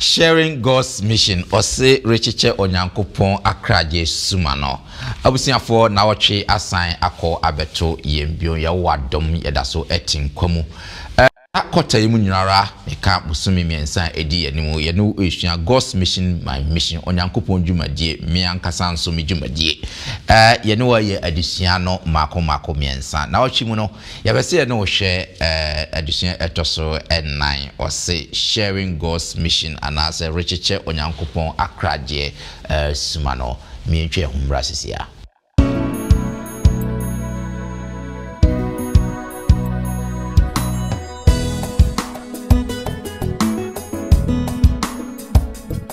Sharing God's Mission ɔse rekyekyɛ Onyankopɔn akragye suma no. Abusuafoɔ nawɔtwe asan akɔ abɛto yɛn bio, Yehowa dom yɛdaso te nkwa mu. Saa kɔta yi mu nyinara meka bosome mmiɛnsa a ɛdi yɛn anim yɛne wo resua God's Mission My Mission, Onyankopɔn dwumadie me ankasa nso me dwumadie. Yɛne wo ayɛ adesua no mmaako mmaako mmiɛnsa. Nawɔtwe mu no, Yɛpɛ sɛ yɛne wo hwɛ adesua a ɛtɔ so nnan, wɔse Sharing God's Mission anaasɛ Rekyekyɛ Onyankopɔn Akoragyeɛ Suma no. Mientwa yɛn ho mmra sisi a.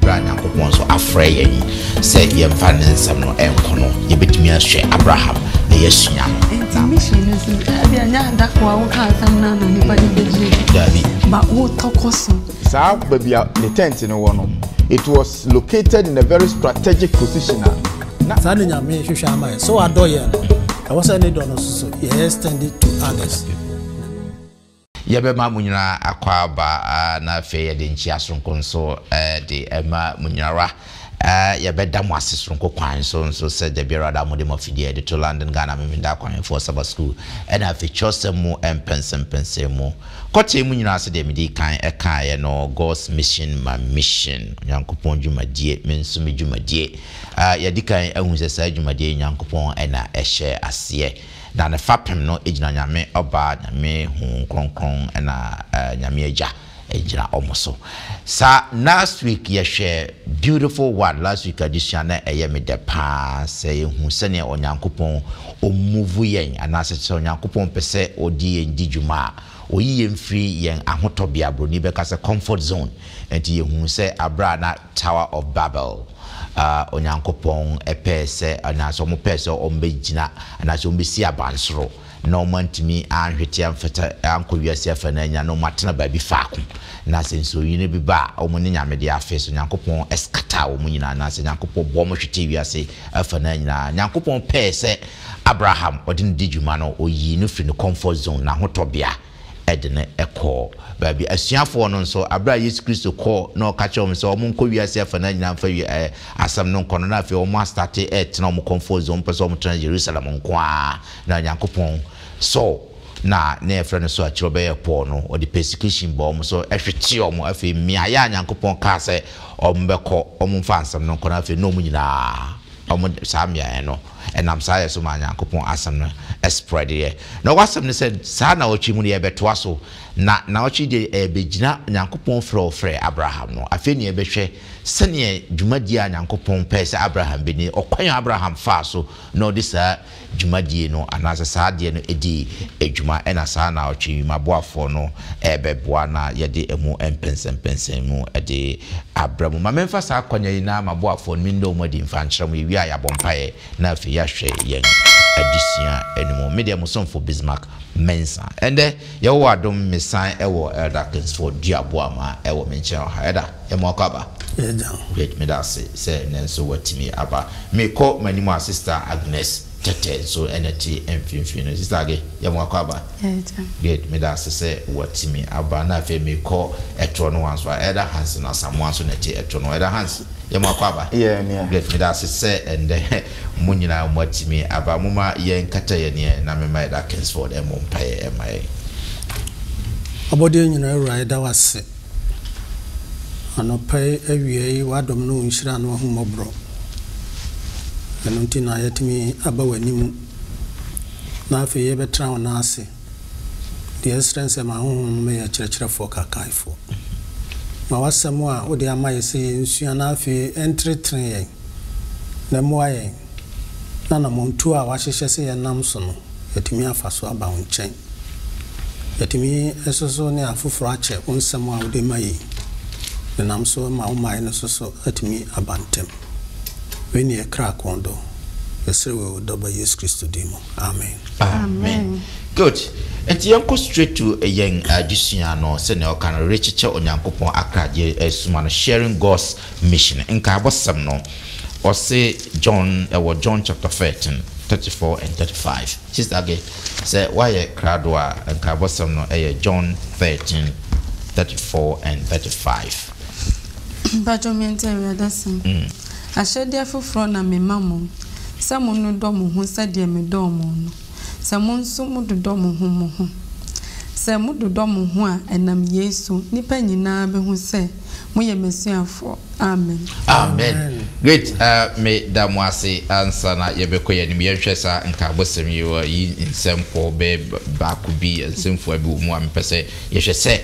Bra Nyankopɔn nso afrɛ yɛn sɛ yɛmfa ne nsɛm no ɛnko no, yɛbɛtumi ahwɛ Abraham na yɛasua no. Nti mission no so, ɛbi ɛnyɛ adako a woka asɛm no na nipa de bɛgye. Dabi. Ba wotɔkɔ so. Saa baabi a ne tent no wɔ no, it was located in a very strategic position a. Na saa na Nyame hwehwɛ ama yɛn. Sɛ wadɔ yɛn no, ɛwɔ sɛ ne dɔ no nso so yɛ extend it to others. Yɛbɛma mo nyinaa akwaaba na afei yɛde nkyia soronko nso de ma mo nyinara. Yɛbɛda mo ase soronko kwan so nso sɛ da biara da a mode mo afidie de to London Ghana Memeneda Akwanhwɛfoɔ Sabbath School ɛna afei twerɛsɛm mu mpɛnsɛmpɛnsɛm mu kɔtee mu nyinaa sɛdeɛ medii kan ɛkaeɛ no God's Mission My Mission Onyankopɔn dwumadie me nso me dwumadie A Yɛadi kan ahu sɛ saa dwumadi yi Nyankopɔn na ɛhyɛɛ aseɛ, na ne fapem no gyina Nyame Ɔba, Nyame Honhom Kronkron na Nyame Agya gyina wɔn so. Sa last week yɛhwɛ beautiful one, last week adesua na ɛyɛ me dɛ paa sɛ yɛhu sɛdeɛ Onyankopɔn ɔmmuvu yɛn anaasɛ sɛ Onyankopɔn pɛ sɛ ɔde yɛn di dwuma a, oyi yɛn firi yɛn ahotɔbea, Buroni bɛka sɛ comfort zone. Enti yɛhunu sɛ berɛ a na Tower of Babel a Onyankopɔn pɛɛ sɛ anaasɛ wɔn pɛɛ sɛ wɔn bɛgyina anaasɛ wɔn bɛsi abansoro na wɔn antumi anhwete amfata ankɔ wiase afa no anya na wɔn atena baabi faako na sɛ nsuoyini bi ba a wɔn ne nyame de afe so Nyankopɔn ɛskataa wɔn nyinaa anaasɛ Nyankopɔn bɔ wɔn hwete wiase afa no nyinaa Nyankopɔn pɛɛ sɛ Abraham, ɔde no di dwuma no, ɔyii no firi ne comfort zone, n'ahotɔ bea, de no kɔɔ baabi. Asuafoɔ no nso, berɛ a Yesu Kristo kɔɔ na ɔka kyerɛɛ wɔn sɛ wɔnkɔ wiase afanaa nyinaa mfa wie ɛɛ asɛm no nkɔ no, na afei wɔn astate retena wɔn comfort zone, wɔn pɛ sɛ wɔn tena Jerusalem nko ara, na Nyankopɔn Saul na na yɛfrɛ no so a kyerɛ ɔbɛyɛɛ Paul no, ɔde persecution baa wɔn so hwetee wɔn, afei mmeaeɛ a Nyankopɔn kaa sɛ wɔn bɛkɔ wɔn mfa asɛm no nkɔ no, afei na wɔn nyinaa wɔn saa mmeaeɛ no. ɛnam saa yɛ so maa Nyankopɔn asɛm no spreadeɛ. Na w'asɛm ne sɛ saa naɔtwe mu no yɛrebɛtoa so, na naɔtwe deɛ ɛrebɛgyina Nyankopɔn frɛ ɔfrɛɛ Abraham no. Afei na yɛbɛhwɛ sɛdeɛ dwumadie a Nyankopɔn pɛɛ sɛ Abraham bɛdi no, ɔkwan a Abraham faa so na ɔde saa dwumadie no anaasɛ saa adeɛ no dii dwuma. Ɛna saa naɔtwe yi m'aboafoɔ no ɛrebɛboa na yɛde ɛmu mpɛnsɛmpɛnsɛmu de abrɛ mo. Ma memfa saa akwanya yi na m'aboafoɔ no mennɔ wɔn adi mfa nkyerɛ mo. Yɛwie a yɛabɔ mpaeɛ na afei yɛahwɛ yɛn adesua no mu. Me deɛ, mo somfo Bismarck Mensah. Ɛnnɛ, Yehowa adom, mesan wɔ Elder Kingsford Duabua ma ɛwɔ me nkyɛn wɔ ha. Elder, yɛma wakɔ aba? Yɛagyaw. Great, meda ase sɛ nnɛ nso watumi aba. Merekɔ m'anim a, Sister Agnes. Tɛtɛ nso na ɛte mfimfini no. Sister Age, yɛ mo akwaaba? Yɛyɛ dɛn? Good, meda ase sɛ watumi aba. Na afei mekɔ ɛtorɔ no wa nso a, Elder Hans no, Asamoah nso na ɛte ɛtorɔ no wa. Elder Hans, yɛ mo akwaaba? Yɛyɛ nea. Good, meda ase sɛ ɛnnɛ mo nyinaa moatumi aba. Momma yɛnkata yɛn ani ɛ na memma Elder Kingsford mmɔ mpaeɛ mma yɛn. Abɔdeɛ nyinaa Wura, yɛda wo ase. Anɔpa yi awia yi w'adom ne wo nhyira ne w'ahummɔborɔ ɛno nti na yɛatumi aba w'anim na afei yɛbɛtra wo nan ase deɛ ɛsrɛ nsɛ ma Honhom no mɛyɛ kyerɛkyerɛfoɔ kakaefoɔ ma w'asɛm a wode ama yɛ sɛ yɛnsua na afei ɛntenetene yɛn na ɛmmoa yɛn na namɔntuo a w'ahyehyɛ sɛ yɛnam so no yɛatumi afa so aba wo nkyɛn. Yɛtumi nso so ne afoforɔ akyɛ wo nsɛm a wode ma yɛn denam so ma wo mmaeɛ no nso so atumi aba ntɛm. Wei ne yɛn kra kɔn dɔ. Yɛsrɛ wei wɔ Dɔba Yesu Kristo din mu. Amen. Amen. Good. Nti yɛnkɔ straight to yɛn adesua no. Sɛnea ɔka no, rekyekyɛ Onyankopɔn akradeɛ suma no, Sharing God's Mission. Nkaabɔsɛm no, ɔse John, ɛwɔ John chapter thirteen, thirty four and thirty five. Sister Aggie. Sɛ woayɛ krado a, nkaebɔsɛm no yɛ John thirteen, thirty four and thirty five. Mpatsɔ mente Awurade asɛm. Ahyɛdeɛ foforɔ na mema mo, sɛ monnodɔ mo ho sɛdeɛ medɔɔ mo no, sɛ mo nso mododɔ mo ho mo ho. Sɛ mododɔ mo ho a, ɛnam yei so, nnipa nyina ara bɛhu sɛ. Moyɛ m'asuafoɔ. Amen. Amen. Great. Uh, me da mo ase ansa na yɛbɛkɔ yɛn anim yɛnhwɛ saa nkaabɔsɛm yi wɔ yi nsɛmpɔ bɛɛ baako bi nsɛmfua bi wɔ mu a mepɛ sɛ yɛhwɛ sɛ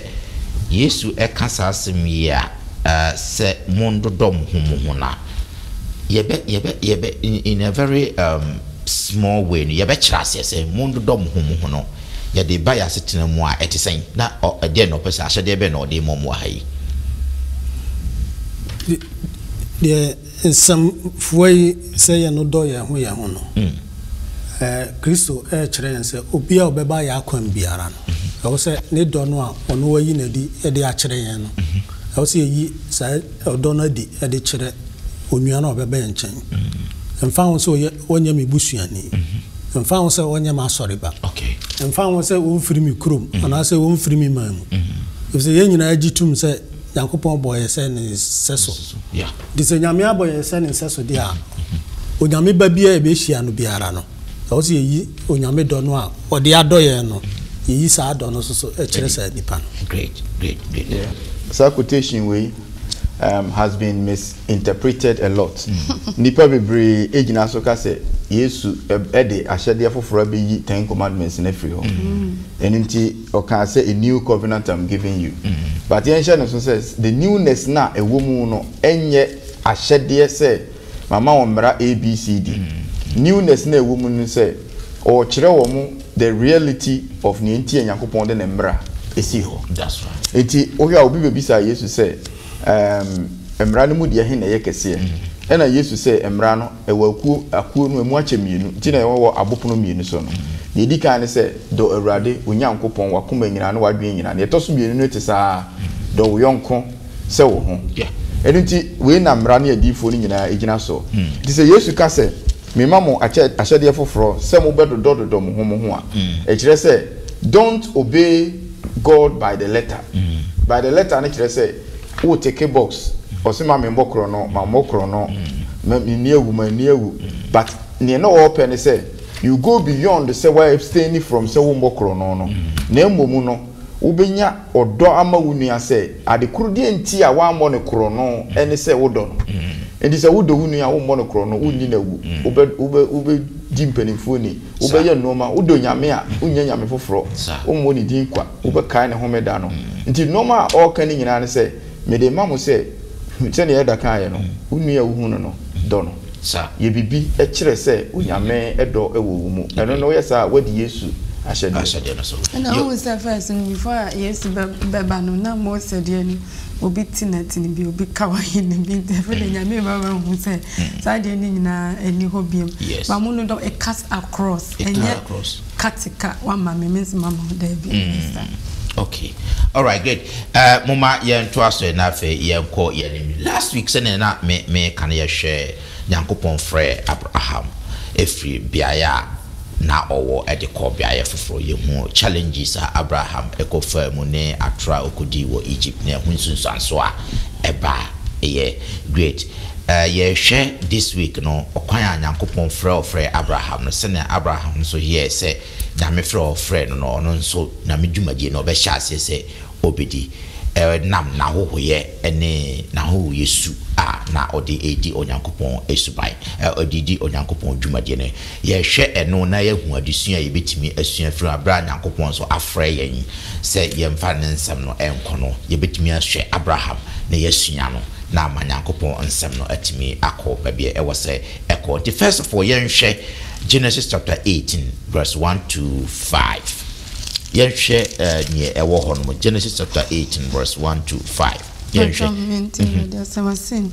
Yesu ɛka saa asɛm yi a uh, sɛ mondodɔ mo ho mo ho na yɛbɛ yɛbɛ yɛbɛ in, in a very um, small way no yɛbɛkyerɛ aseɛ sɛ mondodɔ mo ho mo ho no Yɛde reba yɛn asetena mu a, ɛte sɛn, na ɔ, ɛdeɛn na ɔpɛ sɛ, ahyɛdeɛ bɛn na ɔde rema mu wɔ ha yi? Deɛ nsɛm fua yi, sɛ yɛn no dɔ yɛn ho yɛn ho no, ɛ, Kristo rekyerɛ yɛn sɛ, obiara a ɔbɛba yɛn akwan mu biara no, ɛwɔ sɛ ne dɔ no a ɔno wayi no adi de akyerɛ yɛn no, ɛwɔ sɛ yɛyi saa ɔdɔ no adi de kyerɛ onua no a ɔbɛba yɛn nkyɛn. Ɛmfa ho sɛ ɔyɛ. Ɔnyɛ me busuani. Ɛmfa ho sɛ ɔnyɛ m'asɔre ba. Ɛmfa ho sɛ ɔmfiri me kurom anaasɛ ɔmfiri me man mu. Ɛfiri sɛ yɛn nyinaa gye tom sɛ Nyankopɔn bɔɔ yɛn sɛ ne nsɛso. Nti sɛ Nyame abɔ yɛn sɛ ne nsɛso deɛ a, Onyame ba biara a yɛbɛhyia no biara no, ɛwɔ sɛ yɛyi Onyame dɔ no a ɔde adɔ yɛn no, yɛyi saa dɔ no nso so kyerɛ saa nipa no. Saa quotation wei has been mis. interpreted a lot. Nnipa bebree gyina so ka sɛ Yesu de ahyɛdeɛ foforɔ abɛyi Ten Commandments no afiri hɔ. Ɛno nti ɔkaa sɛ, A new covenant I'm giving you. But yɛnhyɛ no nso sɛ, the newness no a ɛwɔ mu no nyɛ ahyɛdeɛ sɛ mama wɔn mmara ABCD. Newness no a ɛwɔ mu ne sɛ ɔrekyerɛ wɔn the reality of nea nti a Nyankopɔn de ne mmara sii hɔ. Nti wohwɛ a obi bɛbisa Yesu sɛ, Ɛɛm, Mmara no mu deɛ he na ɛyɛ kɛseɛ? Ɛna Yesu se, Mmara no, ɛwɔ akuo, akuo no, emu akyɛ mmienu, nti na ɛwɔ abopono mmienu so no. Deɛ edi kan ne sɛ, Dɔ Awurade, wo Nyankopɔn, w'akoma nyinaa ne w'adwene nyinaa. Deɛ ɛtɔ so mmienu no te saa ara, Dɔ wo yɔnko sɛ wo ho. Ɛno nti, wei na Mmara ne Adiyifoɔ no nyinaa gyina soɔ. Nti sɛ Yesu ka sɛ. Mema mo akyɛ ahyɛdeɛ foforɔ, sɛ mobɛdodɔdodɔ mo ho mo ho a, ɛkyerɛ sɛ, don't obey God by the letter, by the letter no kyerɛ sɛ, wo teke box, ɔse ma menbɔ korɔno, mammɔ korɔno, ma menni awu, manni awu, but neɛ na ɔɔpɛ ne sɛ, you go beyond sɛ woa abstaini from sɛ wommɔ korɔno no, na mmom no, Wobɛnya ɔdɔ ama wo nua sɛ ade koro deɛ nti a woammɔ no korɔno ne sɛ wodɔ no. Enti sɛ wodɔ wo nua a wommɔ no korɔno, wonni no awu, wobɛ wobɛ wobɛdi mpanimfoɔ ni, wobɛyɛ nnoɔma, wodɔ Nyame a wonnya Nyame foforɔ, wommɔ ne din kwa, wobɛkae ne homeda no. Nti nnoɔma a ɔreka no nyinaa ne sɛ, mede rema mo sɛ, sɛdeɛ Elder kaeɛ no, wo nua a wohu no no, dɔ no. Sa yɛ bibi kyerɛ sɛ Onyame dɔ wɔ wo mu. Ɛno no woyɛ saa a wadi Yesu ahyɛdeɛ no so. Ɛna wohu sɛ first no before a Yesu bɛba no na Mose deɛ no obi ti na ti no bi obi ka wayi no bi nti ɛfɛ deɛ Nyame reba bɛ hu sɛ saa deɛ no nyinaa ɛni hɔ biom. Ba mu no dɔ it cuts across ɛnyɛ Kate ka wama me me nso mama wo daabi Esther. Mm, okay alright good uh, moma yɛntoa so na afei yɛnkɔ yɛnim last week sɛnea na me me ka no yɛhwɛ nyankopɔn frɛ abraham ɛfiri beaeɛ a na ɔwɔ de kɔ beaeɛ foforɔ yɛhu challenges a abraham ɛkɔfaa mu ne atorɔ a ɔkɔdii wɔ egypt na ɛho nsunsuanso a ɛba ɛyɛ great Eh, yɛrehwɛ this week no, ɔkwan a Nyankopɔn frɛ ɔfrɛɛ Abraham no, sɛnea Abraham nso yɛɛ sɛ Nyame frɛ a ɔfrɛɛ no no, ɔno nso Nyame dwumadie no ɔbɛhyɛ aseɛ sɛ ɔbɛdi, eh, nam n'ahohoyɛ ne n'ahohoyɛ su a na ɔde redi Onyankopɔn suban, eh, ɔde redi Onyankopɔn dwumadie no. Yɛhwɛ ɛno na yɛahu adesua a yɛbɛtumi asua afiri mu, berɛ a Nyankopɔn nso afrɛ yɛn sɛ yɛmfa Ne nsɛm no nkɔ no, yɛbɛtumi ahwɛ Abraham na yɛasua no. na ama Nyankopɔn nsɛm no atumi akɔ baabi a ɛwɔ sɛ ɛkɔ. Nti first of all yɛnhwɛ Genesis chapter eighteen verse one to five. Yɛnhwɛ ɛɛ eh, nea ɛwɔ hɔ nom. Genesis chapter eighteen verse one to five. Yɛnhwɛ. Mhm.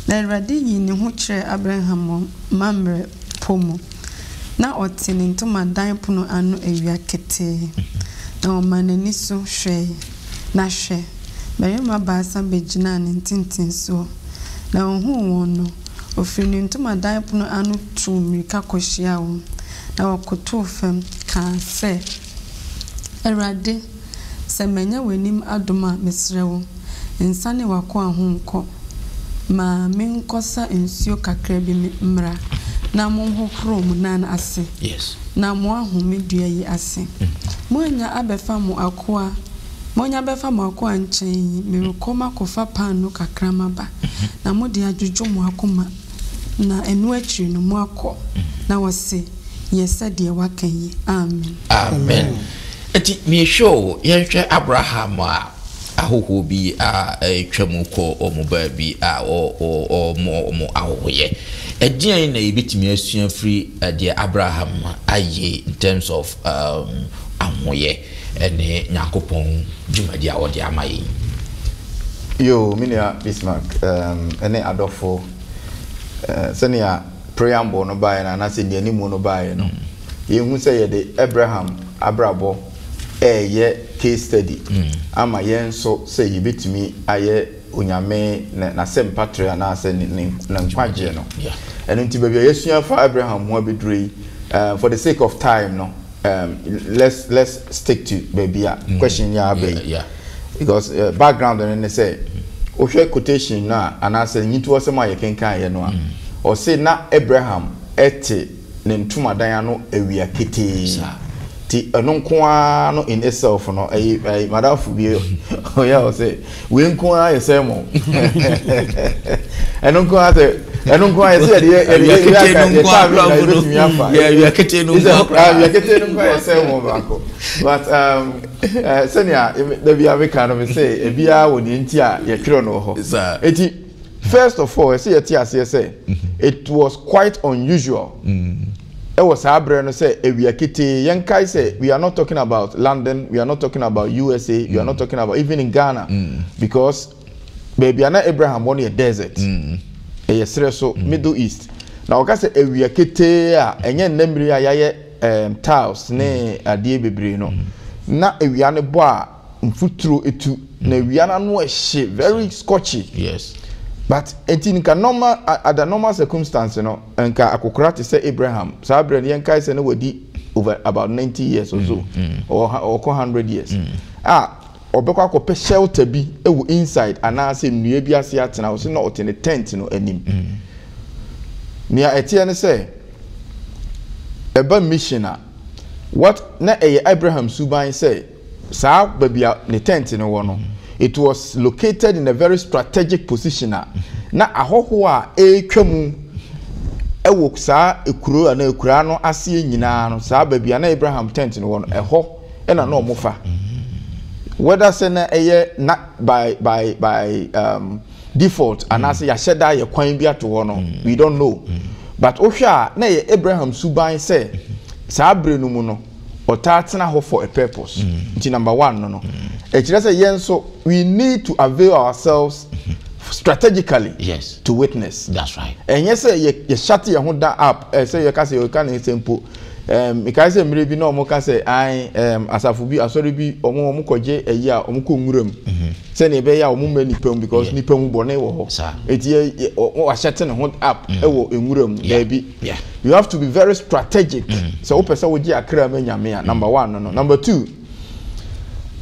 Na Awurade yii ne ho kyerɛɛ Abraham wɔ Mamrɛ po mu, na ɔte ne ntomadan pono ano awia ketee, na ɔmaa n'ani so hwɛe. Na hwɛ! mmarima baasa begyinaa ne ntentensoɔ, na ɔhuu wɔn no, ɔfirii ne ntomadan pono ano tuu mmirika kɔhyiaa wɔn, na ɔkotoo fam, kaa sɛ, Awurade, sɛ manya w'anim adom a, mesrɛ wo, nsane w'akoa ho nkɔ. Ma menkɔsa nsuo kakra bi mmra na monhohoro mo nan ase na moahome dua yi ase. se, Moanya abɛfa mo akoa, moanya abɛfa mo akoa nkyɛn yi, merekɔ makɔfa paanoo kakra maba, na mode adwodwo mo akoma, na ɛno akyiri no moakɔ. Na wɔse, Yɛ sɛdeɛ woaka yi. Amen. Amen. Enti mehwɛ o, yɛnhwɛ Abraham a. ahohoɔ bi a ɛretwa mu kɔ wɔn baabi a wɔrebɔ wɔn ahohoyɛ. Ɛdeɛn na yɛbɛtumi asua afiri deɛ Abraham ayɛ in terms of um, ahoyɛ ne Nyankopɔn dwumadi a ɔde ama yɛn? Yo, me nua Bismarck um, ne adɔfo, uh, sɛnea preamble no baeɛ no anaasɛ nnianimu no baeɛ no, mm. yɛhu sɛ yɛde Abraham abrabɔ reyɛ case study mm. ama yɛn nso sɛ yɛbɛtumi ayɛ onyame n'asɛmpa trɛ anaasɛ ne nkwagyeɛ no ɛno nti baabi a yɛasua fa abraham ho abɛduro yi eh, for the sake of time no um, let's let's stick to baabi a mm. question yɛ abɛ yi because uh, background no ne sɛ wohwɛ quotation no a anaasɛ nyitoɔ sɛm a yɛkenkan yɛ no a mm. ɔse na abraham ɛte ne ntomadan ano awia ketee nti ɛno nko ara no in itself no ɛyi ɛyi madamfo bi ɔyɛ ɔ sɛ wei nko ara yɛ sɛ mo ɛno nko ara sɛ ɛno nko ara yɛ sɛ yɛde yɛ yɛde yɛ yɛ aka yɛ kaa mi na yɛ bɛ tumi afa yɛ awia ketee no nko ara awia ketee no nko ara yɛ sɛ mo baako but um, eh, sɛnea dabi abeka no mi sɛ ebiara wɔ deɛ nti a yɛtwerɛ no wɔ hɔ eti. First of all, ɛsɛ yɛte aseɛ sɛ it was quite unusual ɛwɔ saa berɛ no sɛ awia ketee, yɛnkae sɛ we are not talking about London, we are not talking about USA, we are not talking about even in Ghana because baabi a na Abraham wɔ no yɛ desert, ɛyɛ serɛ so, Middle East. Na wɔka sɛ awia ketee a ɛnyɛ nnɛ mmire a yɛayɛ um, tiles ne adeɛ bebree no, na awia no bɔ a mfuturo etu na awia no ano ɛhye very scorchy yes but eti nka normal ada normal circumstance no nka akokora te sɛ Abraham saa abirɛ no yɛn kae sɛ na wadi over about ninety years or so ɔkɔ hundred years a ɔbɛkɔ akɔpɛ shelter bi ɛwɔ inside anaasɛ nnua bi ase atena ɔsi na ɔte ne tent no anim nea ɛteɛ ne sɛ ɛba mission a what na ɛyɛ Abraham suban sɛ. Saa baabi a ne tɛnt no wɔ no, it was located in a very strategic position a na ahɔho a ɛretwa mu wɔ saa kuro anaa akuraa no aseɛ nyinaa no, saa baabi a na Abraham tɛnt no wɔ no, ɛhɔ na na wɔfa. Whether sɛ na ɛyɛ na by by by um, default anaasɛ yɛahyɛ da yɛ kwan bi ato hɔ no, we don't know. But wohwɛ a na ɛyɛ Abraham suban sɛ saa bere no mu no, ɔtaa tena hɔ for a purpose mm. nti number one no no mm. ɛkyerɛ sɛ yɛn nso we need to avail ourselves mm-hmm. strategically yes. to witness ɛnyɛ sɛ yɛhyate yɛn ho da up sɛ yɛka sɛ yɛka ne nsɛm po mekae sɛ mmerɛ bi na ɔmo ka sɛ an asafo bi asɔre bi ɔmo ɔmo kɔgye ayi a ɔmo kɔ nwura mu mm-hmm. sɛnea ɛbɛyɛ a ɔmo mma nipa mu because nipa mu bɔne wɔ hɔ eti yɛ wahyɛte ne ho up mm. ɛwɔ nwura mu daabi You have to be very strategic. Mm. Sɛ wopɛ sɛ wogye akra ma Nyame a, number one no no. Number two,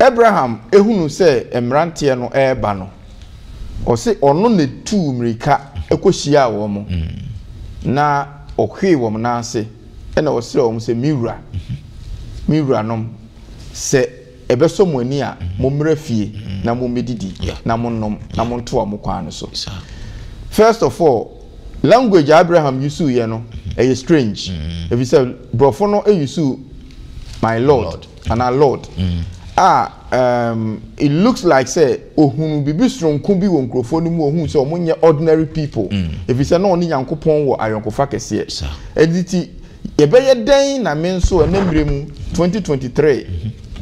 Abraham ehunu sɛ mmeranteɛ no ɛreba no, ɔse ɔno na etuu mmirika ɛkɔhyiaa wɔn mo, mm. na ɔhwee wɔn nan ase, ɛna ɔsrɛ wɔn sɛ, me wura, me wuranom, sɛ Ɛbɛsɔ mo ani a, mommra fie na mommɛdidi na monnom na montoa mo kwan no so. First of all, language a Abraham usuuiɛ no, ɛyɛ strange. Ɛfiri sɛ borɔfo no usuu my lord anaa lord a um it looks like sɛ ɔhunuu biribi sononko bi wɔ nkurɔfoɔ no mu, ɔhuu sɛ wɔnyɛ ordinary people. Ɛfiri sɛ na ɔne Nyankopɔn wɔ ayɔnkofa kɛseɛ. Ɛno nti, Yɛbɛyɛ dɛn na me nso ɛnnɛ mmerɛ mu, 2023,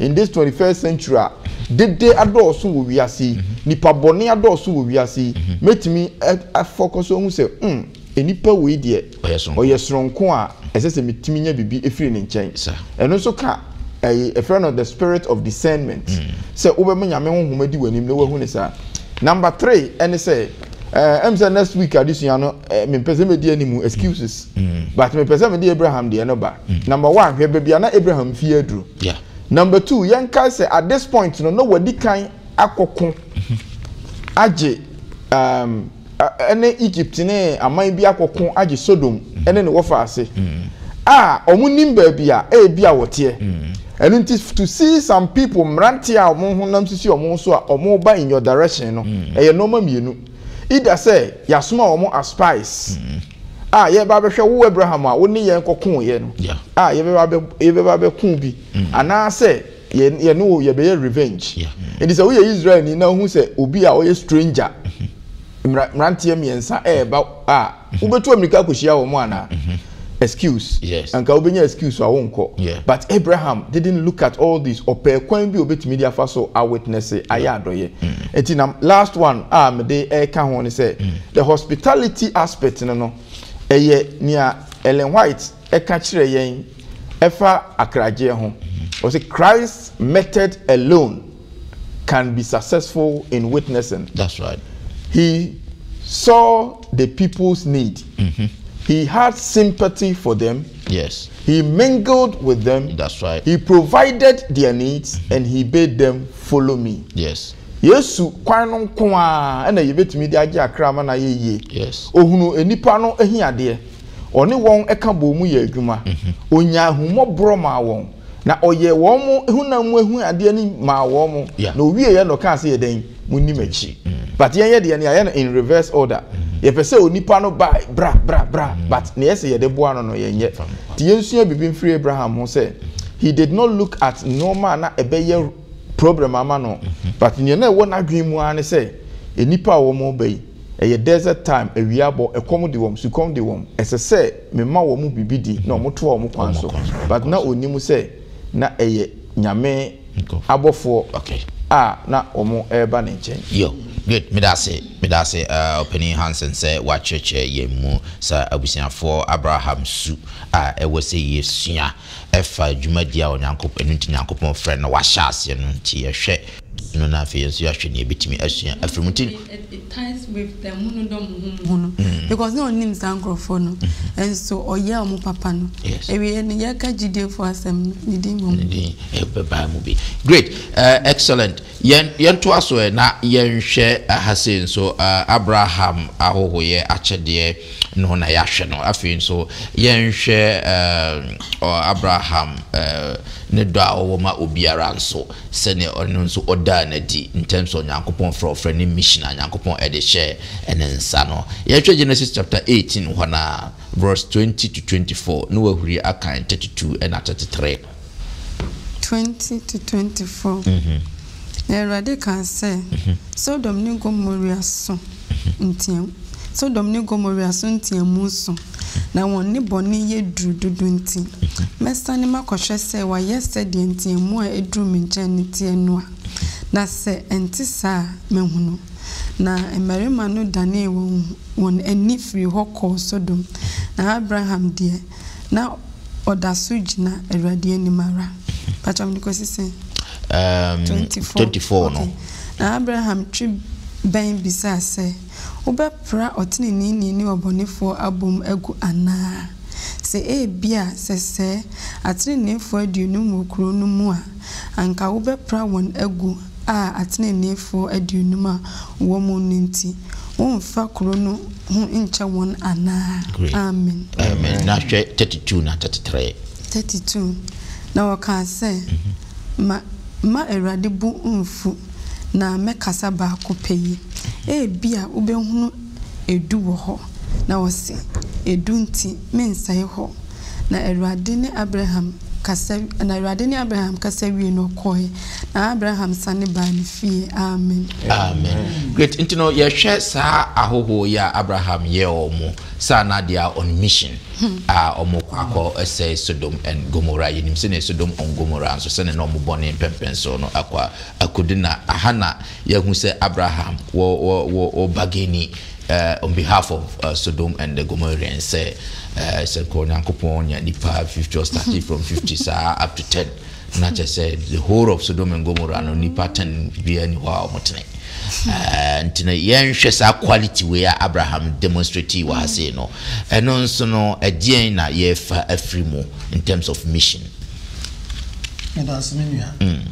in this 21st century a dede adɔɔso wɔ wiase yi, nnipa bɔne adɔɔso wɔ wiase yi, mɛtumi a focus ahu sɛ hmm, nipa wei deɛ ɔyɛ sononko a ɛsɛ sɛ metumi nya biribi firi ne nkyɛn. Ɛno nso ka ɛyi, ɛfrɛ no the spirit of discernment, sɛ wobɛma Nyame honhom adi w'anim na wahu no saa. Number three ɛne sɛ. ɛɛ ɛm sɛ next week adesua no ɛɛ mepɛ sɛ medi anim excuses mm. but mepɛ sɛ mede abraham deɛ no ba mm. number one hwɛ baabi a na abraham fie aduro yeah. number two yɛnkae sɛ at this point no na wadi kan akɔko mm-hmm. agye um, ɛne egypt ne aman bi akɔko agye sodom mm-hmm. ɛne ne wɔfa ase mm-hmm. a wɔn nim baabi a ɛyɛ bi a wɔteɛ Ɛno nti to see some people mmeranteɛ a wɔn honam sisi wɔn ho so a wɔreba in your direction no, ɛyɛ nnoɔma mmienu. Either sɛ yɛasoma wɔn as spies a yɛreba abɛhwɛ wo Abraham a wo ne yɛn kɔkoeɛ no a yɛbɛba abɛ yɛbɛba abɛko bi anaasɛ yɛ yɛne wo yɛbɛyɛ revenge. Nti sɛ woyɛ Israelni na wohu sɛ obi a ɔyɛ stranger mmera mmeranteɛ mmiɛnsa ɛreba a mhm. wobɛtu amirika akɔhyia wɔn anaa mhm. excuse yes. anka wobɛnya excuse a wonkɔ yeah. but abraham didn't look at all this ɔpɛɛ kwan bi obɛtumi de afa so a witness ayɛ adɔyɛ ɛnti na last one a mede ɛka ho ne sɛ the hospitality aspect no no ɛyɛ nea ellen white ɛka kyerɛ yɛn ɛfa akragyeɛ ho ɔsɛ christ method alone can be successful in witnessing. That's right. He saw the people's need. Mm-hmm. He had sympathy for them. Yes. He mingled with them. That's right. He provided their needs mm-hmm. and he bade them follow me. Yes. yesu kwan no nko a ɛna yɛbɛtumi de agye akra ama no ayɛ yie ohunu nnipa no ahiadeɛ Ɔne wɔn ka bɔɔ mu yɛɛ adwuma. Ɔnyaa ahummɔborɔ maa wɔn, na ɔyɛɛ wɔn honam mu ahuyadeɛ no maa wɔn, yeah. na ɔwieɛ na ɔkaa sɛ yɛ dɛn, monni m'akyi. Mm. But yɛnyɛ deɛ no yɛayɛ no in reverse order. Mm. Yɛpɛ sɛ onipa no ba bra bra bra, mm. but na yɛ sɛ yɛde boa no no yɛnyɛ. Nti yɛnsua biribi mfiri Abraham ho sɛ, he did not look at nneɛma a na ɛbɛyɛ problem ama no but nea na ɛwɔ n'adwene mu ara ne sɛ nnipa a wɔn reba yi ɛyɛ desert time awia abɔ ɛkɔm de wɔn sukɔm de wɔn ɛsɛ sɛ mema wɔn biribi di na wɔn toa wɔn kwan so but na ɔnim sɛ na ɛyɛ nyame abɔfoɔ a na wɔn reba ne nkyɛn. Yo, good, meda ase, meda ase Ɔpanin Hansen sɛ woakyerɛkyerɛ yɛn mu saa abusuafoɔ Abraham su a ɛwɔ sɛ yɛsua. ɛfa dwumadie a Onyankopɔ, ɛno nti Nyankopɔn frɛ no wahyɛ aseɛ no nti yɛhwɛ no na afei yɛnso yɛahwɛ nea yɛbɛtumi asua afiri mu nti. It it ties with the mo no dɔ mo ho mo ho no because na ɔnim saa nkorɔfoɔ no nso ɔyɛ wɔn papa no Yes. awieɛ no yɛka gyidiefoɔ asɛm no ne din mmom. ne din ɛbɛbaa mu bi great eh, excellent Yɛn yɛntoa so ɛ na yɛnhwɛ ha sei nso ɛ Abraham ahɔhoyɛ akyɛdeɛ no na yɛahwɛ no. Afei nso yɛnhwɛ ɛ ɔ Abraham ɛ ne dɔ a ɔwɔ ma obiara nso sɛdeɛ ɔno nso ɔdaa no adi in terms of Nyankopɔn frɛ ɔfrɛ ne mission a Nyankopɔn ɛde hyɛɛ ne nsa no. Yɛnhwɛ Genesis chapter 18 hɔ no ara verse 20 to 24 na wahuri akan 32 ɛna 33. 20-24. Na Awurade kaa sɛ, Sodom ne Gomoria so nteam, Sodom ne Gomoria so nteamu so, na wɔn nnebɔne yɛ duru dodo nti, mɛsane makɔhwɛ sɛ wɔayɛ sɛdeɛ nteamu a ɛduru me nkyɛn no teɛ no a, na sɛ ɛnte saa a, mɛhunu. Na mmarima no danee wɔn ani firii hɔ kɔɔ Sodom, na Abraham deɛ, na ɔda so gyina Awurade anim ara. Pakyɛ mede kɔsi sɛn? Um, 24. 24 no. Okay. Na Abraham twe bɛn bisaa sɛ, Wobɛpra ɔteneneeni ne ɔbɔnefoɔ abom agu anaa? Sɛ ebia sɛ sɛɛ ateneneefoɔ aduonum wɔ kuro no mu a, anka wobɛpra wɔn agu a ateneneefoɔ aduonum a wɔwɔ mu no nti, womfa kuro no ho nkyɛ wɔn anaa? Great. Amen. Amen. Na hwɛ 32 na 33. 32, Na wɔkaa sɛ, mhm. Ma, ma Awurade bo mfu, na mɛkasa baako pɛ yi. Ebia wobɛhunu Edu wɔ hɔ, na ɔse, Edu nti, mensɛe hɔ. Na Awurade ne Abraham kasa wi na Awurade ne Abraham kasa wiee no, ɔkɔe, na Abraham sane baa ne fie. Amen. Amen. Great. Nti no, yɛhwɛ saa ahɔhoɔ yi a Abraham yɛɛ wɔn mo, saa na they are on mission a wɔn kɔ akɔ sɛe Sodom and Gomorrah. Yɛnim sɛnea Sodom and Gomorrah nso sɛnea na wɔn bɔne mpɛmpɛnsoɔ no akɔ a, akɔdu na aha na Yɛhu sɛ Abraham wɔ wɔ wɔ wɔ bargaining eh, on behalf of uh, Sodom and the Gomorrans sɛ eh, sɛ nka Onyankopɔn nya nipa fifty or starting from fifty saa up to ten na kyɛ sɛ the whole of Sodom and Gomorrah no nipa ten biara ni hɔ a wɔn tene eh, nti no yɛnhwɛ saa quality wei a Abraham demonstrate wɔ ha sei no ɛno nso no ɛdeɛn na yɛfa afiri mu in terms of mission. Medase me nua. Mm.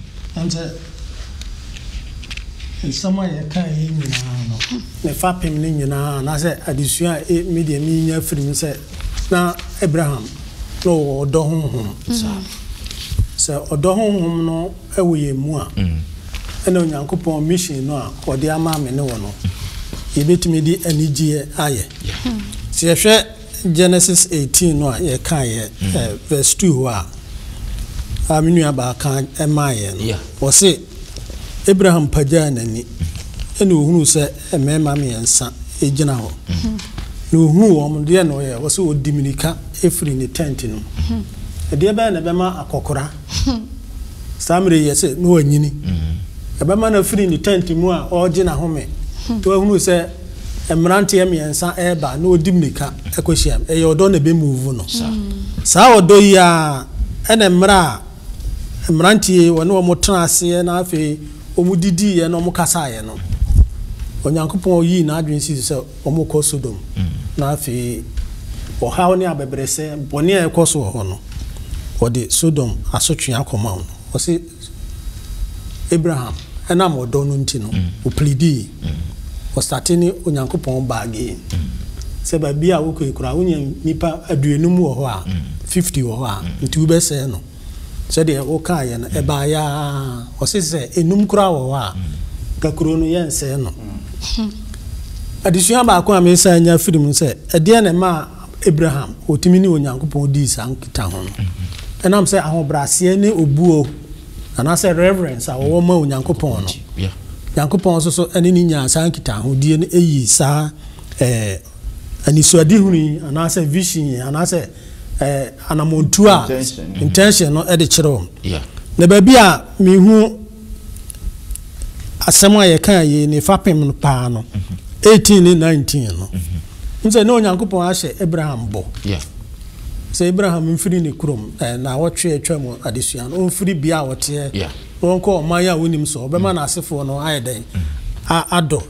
Nsɛm a yɛkae yi nyinaa no, ne fapem no nyinaa anaasɛ adesua a emi deɛ menya afiri mu sɛ na Abraham na ɔwɔ ɔdɔ honhom saa. Sɛ ɔdɔ honhom no wɔ yɛn mu a, ɛna Onyankopɔn mission no a ɔde ama me ne wo no, yɛbɛtumi de anigyeɛ ayɛ. Sɛ yɛhwɛ. Genesis eighteen no a yɛkaa yɛ verse two hɔ a a me nua baa ka ɛmaa yɛ no, ɔse Abraham pagyaa n'ani ɛna ohunuu sɛ mmarima mmiɛnsa egyina hɔ, na ohunuu wɔn no deɛ na ɔyɛ? Ɔse ɔdi mirika efiri ne tent no mu. Ɛdeɛ bɛyɛ na ɛbɛma akɔkora saa mmerɛ yi ɛsɛ na wanyini? Ɛbɛma no afiri ne tent mu a ɔregye n'ahome na wahunu sɛ. Mmeranteɛ mmiɛnsa reba na wɔdi mmirika kɔhyiam. Ɛyɛ ɔdɔ na ɛbɛmuvu no. Saa ɔdɔ yi ara na mmerɛ a mmeranteɛ yi wɔne wɔn tenaaseɛ na afei wɔdidiiɛ na wɔkasaaeɛ no, Onyankopɔn yii n'adwene sii so sɛ wɔrekɔ Sodom na afei ɔhaw ne abɛbrɛsɛ bɔne a ɛrekɔ so wɔ hɔ no, wɔde Sodom asotwee akɔma wɔn. Ɔse. Abraham nam ɔdɔ no nti no ɔplidii, ɔstate ne Onyankopɔn bargain sɛ baabi a wokɔ yi koraa wonya nnipa aduonum wɔ hɔ a, fifty wɔ hɔ a, nti wobɛsɛe no sɛdeɛ wokaeɛ no, ɛbaeɛ ara ɔse sɛ nnum koraa wɔ hɔ a, ka kuro no yɛnsɛe no. Adesua baako a mesan nya firi mu sɛ, ɛdeɛn na ɛmaa Abraham, otumi ne Onyankopɔn dii saa nkitaho no. Ɛnam sɛ ahobrɛaseɛ ne obuo, anaasɛ reverence, a ɔwɔ ma Onyankopɔn no, Nyankopɔn nso so ne no nyaa saa nkitahodie no ɛyi saa ɛɛ anisoadehunu yi, anaasɛ vision yi, anaasɛ ɛɛ anamɔntuo a, intention, no de kyerɛ wɔn. Na baabi a mehu asɛm a yɛkaa yei ne fapem no paa no 18 ne 19 no n sɛ na onyankopɔn ahyɛ abraham bɔ sɛ abraham mfiri ne kurom eh, na wɔtwe atwa mu adesua no ɔmfiri bia a ɔteɛ na ɔnkɔ ɔman a wonim so ɔbɛma mm. n'asefoɔ no ayɛ dɛn mm. adɔ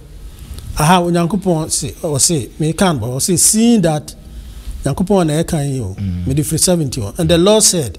aha onyankopɔn se ɔse meka no ɔse seeing that nyankopɔn na ɛka yi o mede firi 70 and the lord said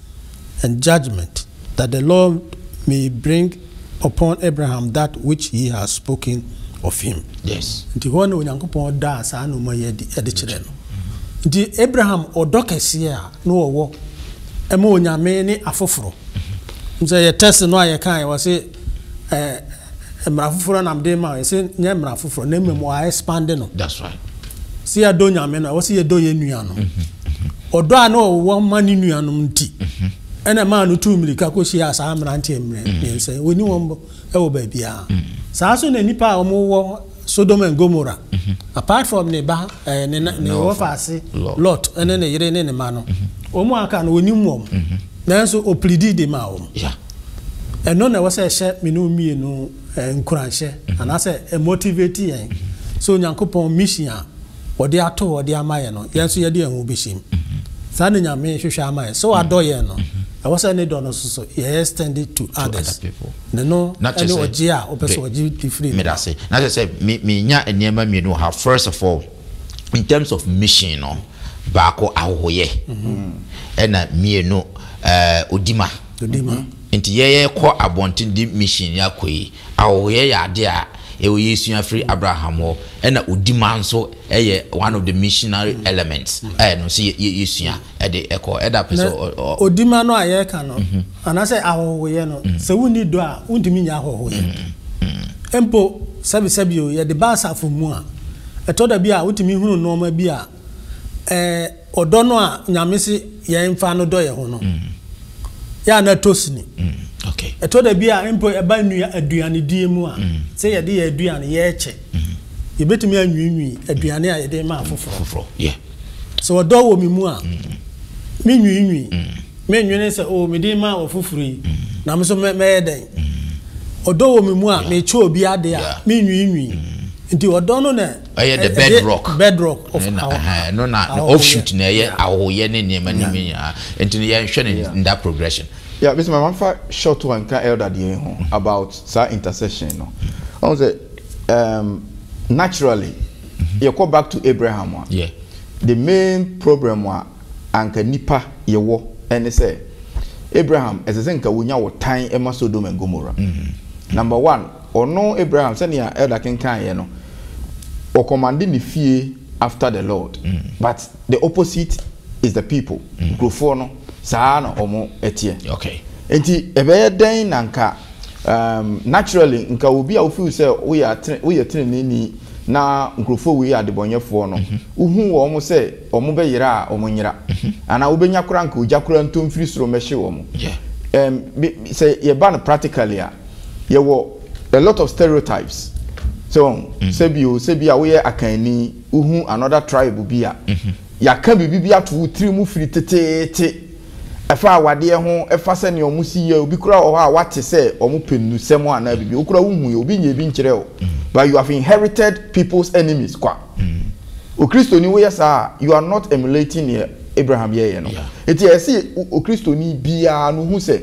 and judgment, that the Lord may bring upon Abraham that which he has spoken of him. Yes. Nti hɔ na Onyankopɔn daa saa nnoɔma yi adi ɛde kyerɛ no. Nti Abraham ɔdɔ kɛseɛ a na ɔwɔ ɛma Onyame ne afoforo. Sɛ yɛ test no a yɛkaeɛ wɔ se. Ɛɛ, mmara foforɔ na mede rema wo. Yɛse nyɛ mmara foforɔ, na mmom wɔa expande no. That's right. Sɛ yɛdɔ Nyame no a, ɛwɔ sɛ yɛdɔ yɛn nuanom. Mm-hmm. Ɔdɔ a na ɔwɔ ma ne nuanom nti, mm-hmm. ɛna maa no tuu mmirika kɔhyiaa saa mmeranteɛ mmerɛ mm-hmm. mmiɛnsa yi. Wɔni wɔn bɔ ɛwɔ baabiara. Saa nso na nnipa a wɔwɔ Sodom and Gomorrah, apart from ne ba ɛɛ ne na ne wɔfaase Lot ɛne ne yere ne ne mma no, wɔn a aka no onim wɔn, nanso oplidi de maa wɔn. Ɛno na ɛwɔ sɛ ɛhyɛ me ne wo mmienu nkuranhyɛ anaasɛ ɛmotivate yɛn sɛ Onyankopɔn mission a. Wɔde ato hɔ de ama yɛn no, yɛn nso yɛde yɛn ho behyem. Saa na Nyame hwehwɛ ama yɛn. Sɛ wadɔ yɛn no, ɛwɔ sɛ ne dɔ no nso so yɛ extend it to others. Ne no ne ɔgye a ɔpɛ sɛ ɔgye de firi ne hɔ. Na kyerɛ sɛ menya nneɛma mmienu wɔ ha. First of all, in terms of mission no, baako ahohoyɛ, ɛna mmienu, eh, odima. Odima. Nti yɛkɔ abɔnten de mission yi akɔ yi, Awowɔyɛ yɛ ade a ɛwɔ yɛsua firi Abraham hɔ ɛna odima nso ɛyɛ one of the missionary elements a ɛno nso yɛsua ɛde ɛkɔ ɛda pɛ sɛ ɔ. Odima no a yɛreka no anaasɛ ahɔhoyɛ no sɛ wonni dɔ a wontumi nyɛ ahɔhoyɛ mpo sɛbesɛbe o yɛde ba asafo mu a ɛtɔ da bi a wotumi hunu nnoɔma bi a ɛɛ ɔdɔ no a nyame se yɛn nfa no dɔ yɛn ho no mm. yɛ a na ɛtɔ sini mm, ɛtɔ da bi a mpo ɛba nnua aduane die mu a mm. sɛ yɛde yɛ aduane yɛkyɛ yɛbɛtumi anwiinwii aduane a yɛde ma afoforɔ sɛ ɔdɔ wɔ me mu a menwiinwii menwene sɛ o oh, mede ma ɔfoforɔ yi na me so mɛyɛ dɛn ɔdɔ wɔ me mu a mekyɛ obi ade a menwiinwii nti ɔdɔ no na ɛyɛ the bed rock bed rock of ahohoyɛ ɛno na off shoot na ɛyɛ ahohoyɛ ne nneɛma ne mu nyinaa nti no yɛnhwɛ ne in that progression. Yeah, Mr. Mama fa short one ka elder deɛ ho mm-hmm. about saa intercession no. Ɔn sɛ um, naturally mm-hmm. yɛ kɔ back to Abraham a. Yeah. The main problem a anka nipa yɛ wɔ ɛne sɛ Abraham ɛsɛ sɛ nka wonya wɔ tan ɛma Sodom and Gomorrah. Mm-hmm. Number one. Ɔno Abraham sɛnea Elder kenkan yɛ no wɔ commande ne fie after the Lord but the opposite is the people nkurofoɔ no saa na ɔmo ɛteɛ nti ɛbɛyɛ dɛn na nka um, naturally nka obi a wofeel sɛ woyɛ teneneni na nkurofoɔ wei yɛ adebɔnyɛfoɔ no wohu wɔ ɔmo sɛ ɔmo bɛyera a ɔmo nyera anaa wobɛnya kora nka ogya kora ntomfiri soro mɛhye ɔmo um, sɛ yɛba no practically a yɛwɔ a lot of stereotypes so wɔn mm. sɛbi o sɛbi a woyɛ akanni wohu another tribe bi a mm-hmm. yɛaka biribi bi ato wo tiri mu firi teteete ɛfa awadeɛ ho ɛfa sɛ nea wɔn si yɛ obi kura wɔ hɔ a wate sɛ wɔn pɛ nnusɛm anaa biribi okura wo hu yɛ obi nyɛ bi nkyerɛ o mm. but you have inherited people's enemies kwa mm. okristoni woyɛ saa you are not emulating neɛ abraham yɛyɛ no eti ɛsi okristoni biara no hu sɛ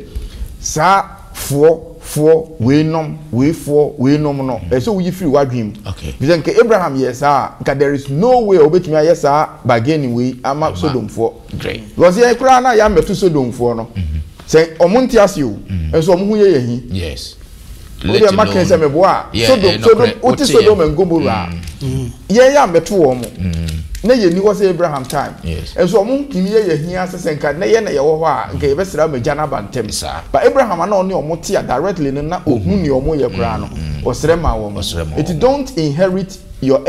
saa. Foɔ, foɔ, wei nom, wei foɔ, wei nom no, ɛsɛ sɛ woyi firi w'adwene mu. Okay. Efisɛ nka Abraham yɛɛ saa a, nka there is no way a obetumi ayɛ saa bargaining wei ama Sodomfoɔ. Great. Because yɛn koraa na yɛammɛto Sodomfoɔ no. Mm-hmm. Sɛ wɔn nte ase o, mm-hmm. nso wɔn ho yɛ yɛn hi. Yes. Wodeɛ mma kɛn sɛ meboa a, Sodom, Sodom, wote Sodom and Gomorrah. Mm. Mm. Yɛn yɛ ammɛto wɔn. Na yɛnni hɔ sɛ Abraham time. Nso wɔn ntumi yɛ yɛn hia ase sɛ nka na yɛn na yɛwɔ hɔ a, nka yɛbɛsra wɔn agya no aba ntɛm. But Abraham a na ɔne wɔn te a directly no na ɔhu nea wɔyɛ koraa no, ɔsrɛ maa wɔn. Enti don't inherit your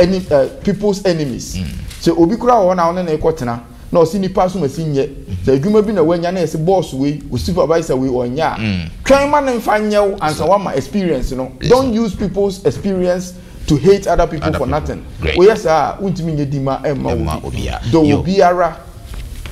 people's enemies. Sɛ obi koraa wɔ hɔ na wo ne no rekɔtena na ɔse nnipa asom asi nyɛ, sɛ adwuma bi na wanya na yɛse boss wei, wo supervisor wei ɔnyɛ a, twɛn ma no mfa nyɛ wo ansa woama experience no. Don't use people's experience. To hate other people for nothing, woyɛ saa a wontumi nyɛ dima mma obi. Dɔ obiara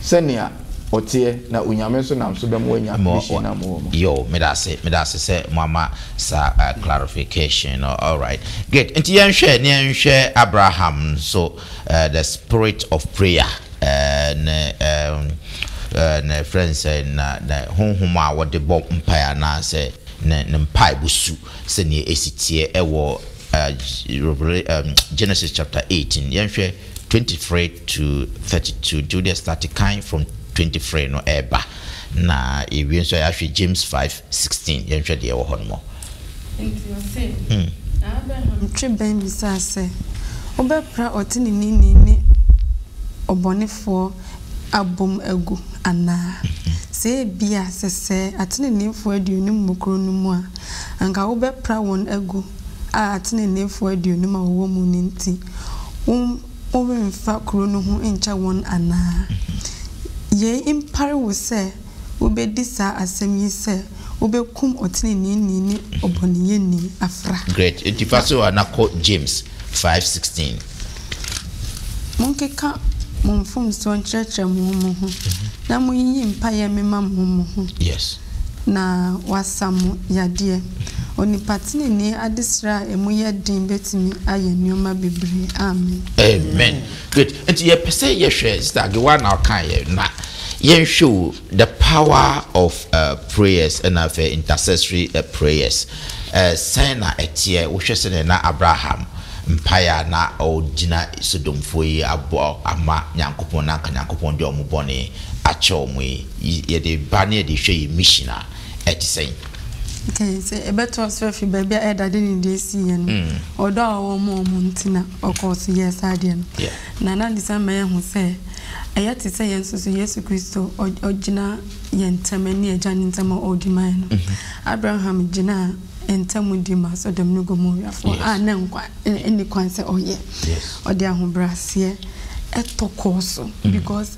sɛnea ɔteɛ na Onyame nso nam so bɛma woanya mission no a mowɔ mu. Yo, medase, medase sɛ moama saa clarification no, alright, great, nti yɛnhwɛ na yɛnhwɛ Abraham nso, the spirit of prayer, ne ne yɛfrɛ no sɛn, ne honhom a wɔde bɔ mpaeɛ anaasɛ ne mpaebɔ su. Sɛnea esi teɛ wɔ Genesis chapter eighteen, yɛnhwɛ twenty three to thirty two, nti wodeɛ start kan from twenty three no ɛɛba na yɛwie nso a yɛahwɛ James five sixteen, yɛnhwɛ deɛ ɛwɔ hɔ nom. Enti ɔse, Na Abraham twe bɛn bisaa sɛ, Wobɛpra ɔteneneeni ne ɔbɔnefoɔ abom agu anaa? Sɛ ebia sɛsɛɛ ateneneefoɔ aduonum mu koro no mu a, anka wobɛpra wɔn agu a ateneneefoɔ aduonum a wɔwɔ mu no nti, woremfa kuro no ho nkyɛ wɔn anaa? Yei mpare wo sɛ wobedi saa asɛm yi sɛ wobekum ɔtreneeni ne ɔbɔneyɛni afra. Great atifa so a na kɔ James five sixteen. Monkeka mo mfomsoɔ nkyerɛkyerɛ mo ho mo ho, na monyiyi mpaeɛ mema mo ho mo ho, na wɔasa mo yadeɛ. Onipa tenenee adesrɛ a emu yɛ den betumi ayɛ nneɛma bebree. Amen. Amen. Good nti yɛpɛ sɛ yɛhwɛ sister Agewa na ɔkae yɛ na yɛnhwɛ o the power of uh, prayers ɛna afɛ intercessory uh, prayers uh, sɛn na ɛteɛ wohwɛ sɛdeɛ na Abraham mpaeɛ a na ɔgyina Sodomfoɔ yi abɔ ama Nyankopɔn na anka Nyankopɔn de ɔmo bɔne akyɛ ɔmo yi yɛde ba ne yɛde hwɛ yɛ mission a ɛte sɛn? Nti sɛ ɛbɛtoa so afi baabi a ɛdade ne deɛ ɛsii yɛ no, ɔdɔ a ɔwɔ ma wɔn nti na ɔkɔɔ so yɛɛ saa adeɛ no. Na na ne saa ma yɛhu sɛ ɛyɛ te sɛ yɛn nso so Yesu Kristo ɔgyina yɛn ntam ne Agya no ntam a ɔredi ma yɛn no. Abraham gyinaa ntam di ma Sodom ne Gomorafoɔ a na nkwa nni kwan sɛ ɔyɛ. Ɔde ahobrɛaseɛ tɔ kɔɔ so because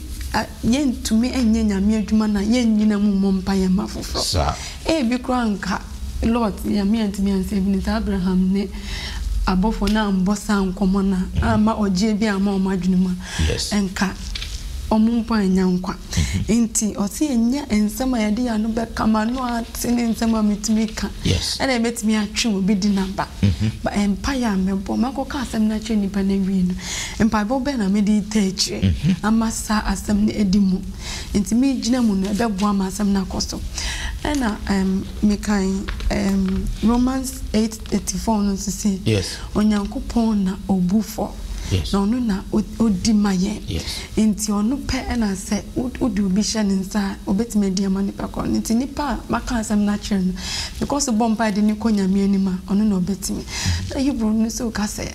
A Yentumi nyɛ Nyame adwuma na yennyina mu mmɔ mpae mma afoforo. Ebi koraa anka Lot, Nyame antumi ansave no, saa Abraham ne abɔfo no ammɔ saa nkɔmmɔ no a, amma ɔgyeɛ biara amma wɔn adwene mu a, anka wɔn mpo annya nkwa. Enti ɔse yɛnyɛ nsɛm a yɛde yɛn ano bɛka, m'ano ate ne nsɛm a metumi ka, ɛna ebetumi atwe obi de no aba. Mpae a mɛbɔ, makɔka asɛm no akyerɛ nnipa no awie no, Mpaebɔ bɛn na mede retaa akyire ama saa asɛm no adi mu? Nti megyina mu no, ɛbɛboa ma asɛm no akɔ so. Ɛna um, mekan um, Romans 8:34 no nso se, yes. Onyankopɔn na obu fɔ. Yes. Na ɔno na odi ma yɛn. Yes. Nti ɔno pɛ ɛna sɛ wode obi hyɛ ne nsa a ɔbɛtumi adi ama nipa korɔ no. Nti nipa a maka asɛm no akyerɛ no, mekɔ so bɔ mpa de ne kɔ nyame anim a ɔno na ɔbɛtumi. Na Hebrew no nso ka sɛ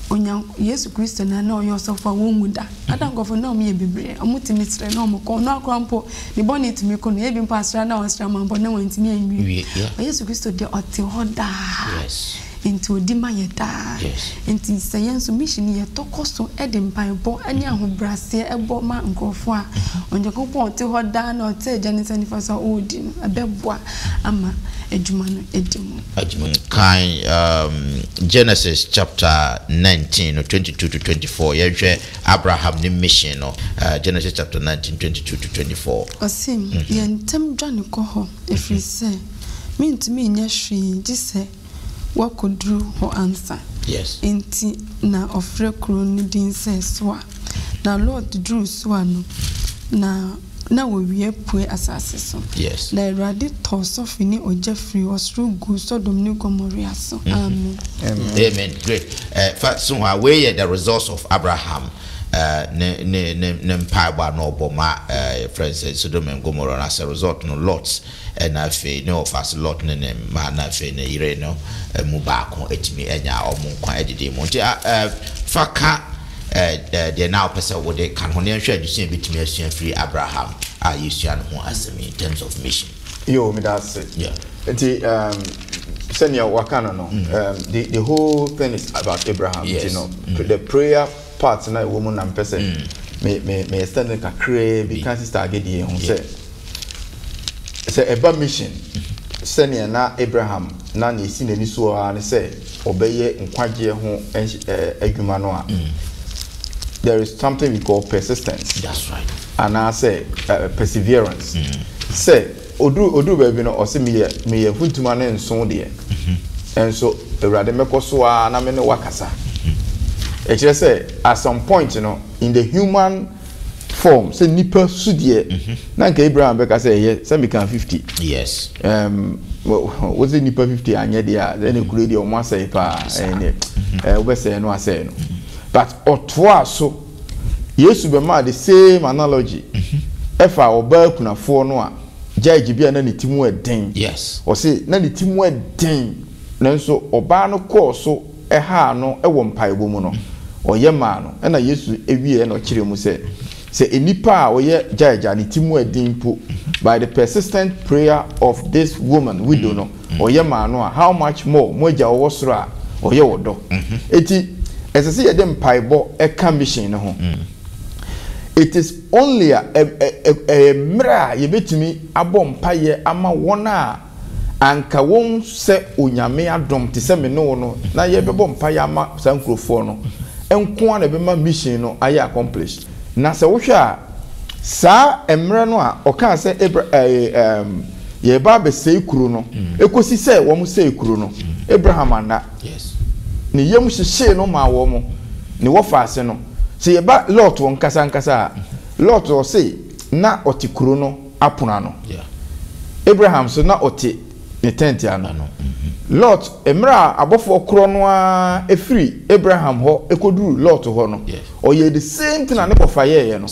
Onyank Yesu Kristo na na ɔyɛ ɔsɔfo a wonwu da. Ada nkurɔfo na wɔyɛ bebree, wɔtumi srɛ na wɔkɔ. Ɔno akora mpo, ne bɔne tumi kɔ no. Ebi mpo asra na wɔasra ma mpo na wɔantumi anwie. Yeah. Yesu Kristo deɛ ɔte hɔ daa. Yes. Nti ɔdi ma yɛ daa. Yes. Nti sɛ yɛn nso mission yɛtɔ kɔ so de mpaebɔ ne ahobraseɛ bɔ ma nkurɔfoɔ a, mm-hmm. Onyankopɔn ɔte hɔ daa na ɔte agya ne nsa nifa so a ɔredi no, ɛbɛboa ama adwuma no adi mu. adwuma mu. Kan Genesis chapter nineteen no, twenty two to twenty four, yɛnhwɛ Abraham ne mission no, Genesis chapter nineteen, twenty two to twenty four. Ɔse, Yɛ ntɛm dwane kɔ hɔ, ɛfirisɛ mentumi nyɛ hwee gyesɛ woakɔduru hɔ ansa. Yes. Enti na ɔfrɛ kuro no din sɛ Soar. Na Lot duruu Soar no, na. Na owia pue asase so. Na Awurade tɔ sɔfe ne ogya firi ɔsoro guu Sodom ne Gomorea so. Amen. Amen great fa so hɔ a wei yɛ the results of Abraham ne ne ne ne mpaebɔ a na ɔbɔ ma yɛfrɛ no sɛ Sodom and Gomorrah no as a result no Lot. Ɛnna afei ne ɔfase Lot ne ne mma ne afei ne yere no mu baako atumi anya wɔn nkwa adidi mu. Nti fa ka deɛ na wopɛ sɛ wode ka no ho, na yɛnhwɛ adesua a yɛbɛtumi asua afiri Abraham a yɛsua ne ho asɛm yi in terms of mission. Yoo, meda ase. Yeah. Nti um, sɛnea waka no no, mm. um, the, the whole thing is about Abraham. Yes. You know, mm. the prayer part no a ɛwɔ mu na mepɛ sɛ me me me extend no kakraa bi ka sister agadie ho sɛ sɛ ɛba mission sɛnea na abraham na nea ɛsi n'ani so ara ne sɛ ɔbɛyɛ nkwagyeɛ ho adwuma no a there is something we call persistence anaasɛ uh, perseverance sɛ Ɔduru ɔduru baabi no ɔse meyɛ meyɛ mfuntuma ne nso deɛ nso awurade mɛkɔ so ara na me ne wo akasa ɛkyerɛ sɛ at some point no in the human form sɛ nipa su deɛ na nka Abraham bɛka sɛ ɛyɛ sɛ meka 50 yes um, wo sɛ nipa 50 anyɛ deɛ a ɛne mhm. kuro deɛ ɔmo asɛe paa ɛne wobɛsɛe no asɛe no but ɔtoa so Yesu bɛmaa the same analogy ɛfa ɔbaa kunafoɔ no a gyae gyebea na ne ti mu ɛden. Yes. Ɔse na ne ti mu ɛden nanso ɔbaa no kɔɔ so ɛhaa no ɛwɔ mpaebɔ mu no ɔyɛ maa no ɛna Yesu ɛwieɛ na ɔkyerɛ mu sɛ sɛ nnipa a ɔyɛ gyae gya ne ti mu ɛden mpo by the persistent prayer of this woman widow no Ɔyɛ maa no a, how much more mo Agya a ɔwɔ soro a ɔyɛ wɔ dɔ? Enti, ɛsɛ sɛ yɛde mpaebɔ ka mission no ho. It is only a, ɛ, ɛ, ɛ, ɛyɛ mmerɛ a yɛbɛtumi abɔ mpaeɛ ama wɔn a anka wɔnsɛ Onyame adom te sɛ me ne wo no, na yɛbɛbɔ mpaeɛ ama saa nkurofoɔ no, nko ara na ɛbɛma mission no ayɛ accomplished. Na sɛ wohwɛ a, saa mmerɛ no a ɔkaa sɛ Abra ɛɛ ɛɛm yɛreba abɛsɛe kuro no kɔsi sɛ wɔn sɛe kuro no, Abraham anna. Ne yam hyehyee no maa wɔn ne wɔfaa ase no. Sɛ yɛba Lot wɔn ankasa ankasa a, Lot ɔse na ɔte kuro no apono ano. Abraham nso na ɔte Ne tɛnte ano no. Lot, mmerɛ a abɔfoɔ korɔ no ara firi Abraham hɔ kɔduruu Lot hɔ no, ɔyɛɛ the same thing a ne wɔfa yɛeɛ no,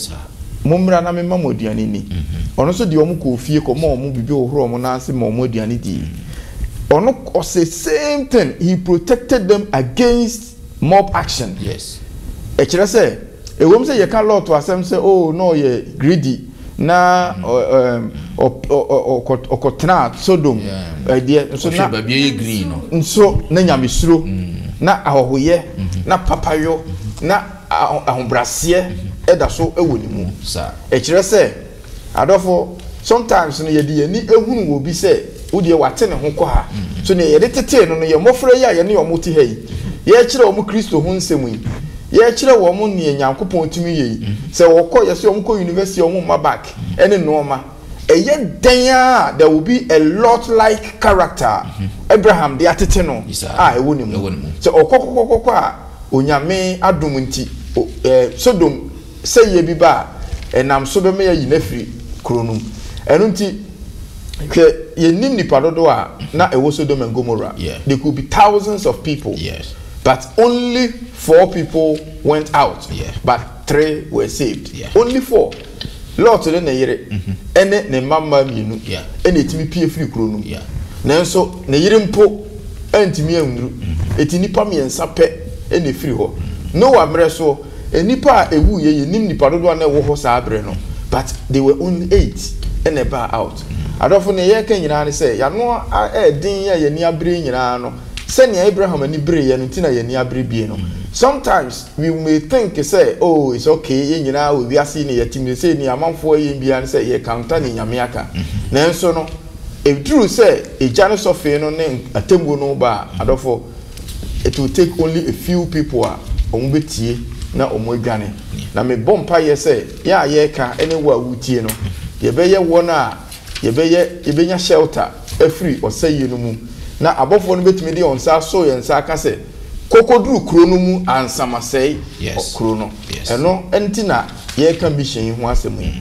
Mommra na memma mo aduane nni. Ɔno nso deɛ wɔn kɔɔ fie kɔmɔɔ wɔn biribi hohorɔɔ wɔn nan ase maa wɔn aduane dii. Ɔno ɔse same thing, he protected them against mob action. Ɛkyerɛ sɛ. Ɛwom sɛ yɛka Lot asɛm sɛ, oh, na ɔyɛ greedy, na ɔkɔtenaa Sodom ɛdeɛ, nso na baabi ɛyɛ green no, nso na nyamesuro, na ahɔhoyɛ, na papayɔ, na ahobraseɛ ɛda so wɔ ne mu. Ɛkyerɛ sɛ. Adɔfo, sometimes no yɛde yɛn ani hunu wɔ obi sɛ wodeɛ wate ne ho kɔ ha, so neɛ yɛde tetee no no yɛn mmɔfra yi a yɛne wɔn te ha yi, yɛrekyerɛ wɔn Kristo ho nsɛm yi, yɛrekyerɛ wɔn neɛ Nyankopɔn tumi yɛ yi, sɛ wɔkɔ, yɛse wɔn kɔ university a wɔn mma bag ne nnoɔma, ɛyɛ dɛn ara a there will be a lot like character a Abraham de atete no a ɛwɔ ne mu, sɛ ɔkɔ kɔkɔkɔkɔ a Onyame adom nti, eh, Sodom Sɛ yea bi ba a, ɛnam so bɛma yɛayi no afiri kuro no mu. Ɛno nti, hwɛ, yɛnnim nnipa dodoɔ a na ɛwɔ Sodom and Gomorrah. They could be thousands of people, but only four people went out, but three were saved. Only four. Lot ne ne yere ne ne mma mmaa mmienu na ɛtumi pue firi kuro no mu. Nanso ne yere mpo antumi annuru. Ɛti nnipa mmiɛnsa pɛ na ɛfiri hɔ. Noa mmerɛ soɔ, Nnipa a ɛwuu yɛ yɛnnim nnipa dodoɔ a na ɛwɔ hɔ saa berɛ no but they were only eight ɛna ɛbaa out. Adɔfo neɛ yɛreka nyinaa ne sɛ yɛano ayɛ den a yɛani abere nyinaa no sɛnea Abraham ani bereeɛ no nti na yɛani abere bie no. Sometimes we may think sɛ oh it's ok yɛn nyinaa wɔ wiase yi na yɛte mu seisei neɛ amanfoɔ ɛyɛ biara ne sɛ yɛ counter neɛ Nyame aka nanso no ɛduru sɛ egya no sɔfee no ne atemmuo no ba a adɔfo it will take only a few people a wɔn bɛtie na wɔn adwane na me bɔ mpa yɛ sɛ yɛ a yɛreka ɛne wo a wotie no yɛbɛyɛ wɔn a yɛbɛyɛ yɛbɛnya shelter afiri ɔsɛyie no mu na abɔfoɔ no bɛtumi de wɔn nsa aso yɛn nsa aka sɛ kɔkɔduru kuro no mu ansa masɛe yes. kuro no yes. ɛno nti na yɛreka mission yi ho asɛm yi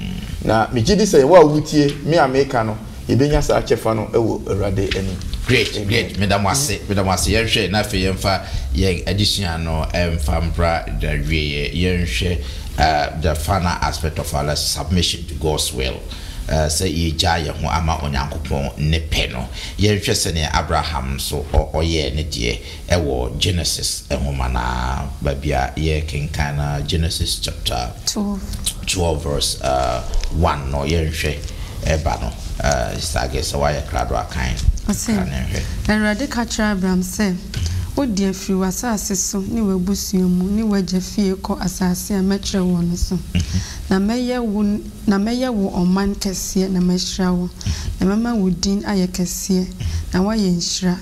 na megye di sɛ wɔ a wotie me a meka no Yɛbɛnya saa kyɛfa no wɔ Awurade anim. Great, great, Amen. meda mo ase, meda mo ase. Yɛnhwɛ na afei yɛmfa yɛn adesua no mfa mbra n'awieɛ. Yɛnhwɛ eh, the final aspect of our lesson, submission to God's will. Eh, sɛ yɛgyaa yɛn ho ama Onyankopɔn ne pɛ no. Yɛnhwɛ sɛdeɛ Abraham nso ɔ, ɔyɛɛ ne deɛ. wɔ Genesis nwoma no ara baabi a yɛrekenkan no ara, Genesis chapter twelve verse one no, yɛnhwɛ ba no. Sister Aggie, sɛ woayɛ krado a, kan ka ne nhwɛ. Ɔse, Awurade ka kyerɛɛ Abram sɛ, Wo deɛ, firi w'asaase so ne w'abusua mu ne w'agya fie kɔ asaase a mɛkyerɛ woɔ no so, na mɛyɛ wo Na mɛyɛ wo ɔman kɛseɛ na mahyira wo, na mɛma wo din ayɛ kɛseɛ, na woayɛ nhyira,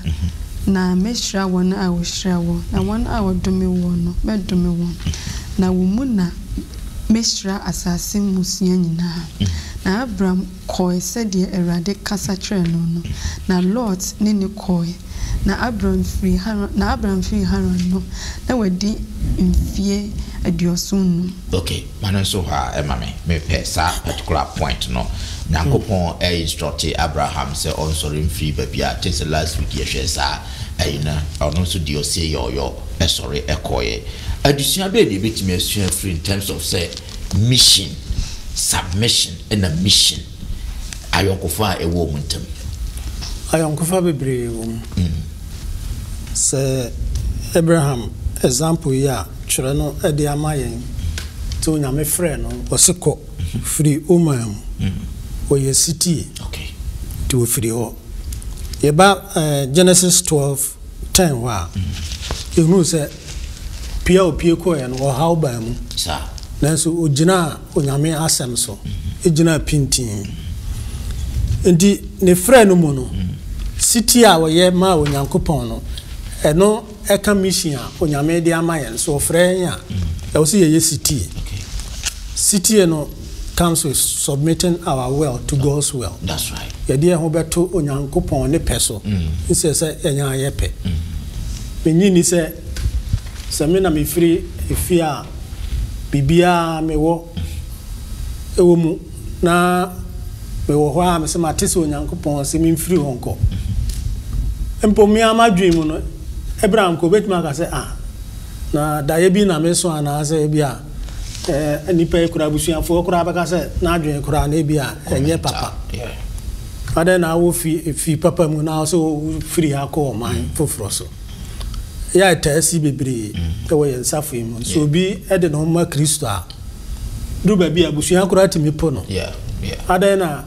na mɛhyira wɔn a wɔhyira woɔ, na wɔn a wɔdome woɔ no, mɛdome wɔn, na wo mu na mɛhyira asase mmusua nyinaa. Na Abram kɔɔe sɛdeɛ Awurade kasa kyerɛɛ no no, na Lot ne no kɔɔe. Na Abram firii Haran, na Abram firii Haran no, na wadi mfie aduɔson-nnum. Ok, Ma no nso hɔ ara ma me. Me pɛ saa particular point no. Nyankopɔn a instructe Abraham sɛ ɔnsɔre mfiri baabi a, kyɛsɛ last week yɛ hwɛɛ saa ayi no, ɔno nso deɛ ɔsee yɔɔyɔ sɔre kɔeɛ. Adesua bɛn na yɛbɛtumi asua afiri in terms of sɛ mission, submission ɛna mission. Ayɔnkofa a ɛwɔ wɔn ntam. Ayɔnkofa bebree wɔ mu. Sɛ Abraham example yi a twerɛ no de ama yɛn nti Onyame frɛɛ no ɔse kɔ firi wo man mu ɔyɛ sitie nti ɔfiri hɔ yɛba Genesis 12 10 hɔ a yɛhunu sɛ pie a ɔpie kɔeɛ no ɔhaw baa mu nanso ɔgyinaa Onyame Asɛm so gyina pintinn. Enti ne frɛ no mu no, setie a wɔyɛ ma Onyankopɔn no, ɛno ka mission a Onyame de ama yɛn. Sɛ ɔfrɛ yɛn a, ɛwɔ sɛ yɛyɛ setie. Setie no comes with submitting our will to God's will. Yɛde yɛn ho bɛto Onyankopɔn ne pɛ so, nsɛ sɛ yɛn ara yɛpɛ. Minnye nni sɛ, sɛ me na mefiri efie a, biribiara mewɔ wɔ mu, na mewɔ hɔ ara a mesɛ mate sɛ Onyankopɔn se memfiri hɔ nkɔ. Mpo me ara m'adwene mu no, ebere a mpo obetumi aka sɛ, ah, na daeɛ bi na meso anaasɛ ebi a eh, nnipa yi koraa, abusuafoɔ koraa bɛka sɛ n'adwene koraa na ebi a ɛnyɛ papa. Adɛn na wofiri firi papa mu na sɛ wofiri ha kɔ ɔman foforɔ so? Yɛ a ɛtaa si bebree wɔ yɛn safoa yi mu. Sɛ obi de ne ho ma Kristo a, duru baabi a abusua koraa tumi po no. Adɛn na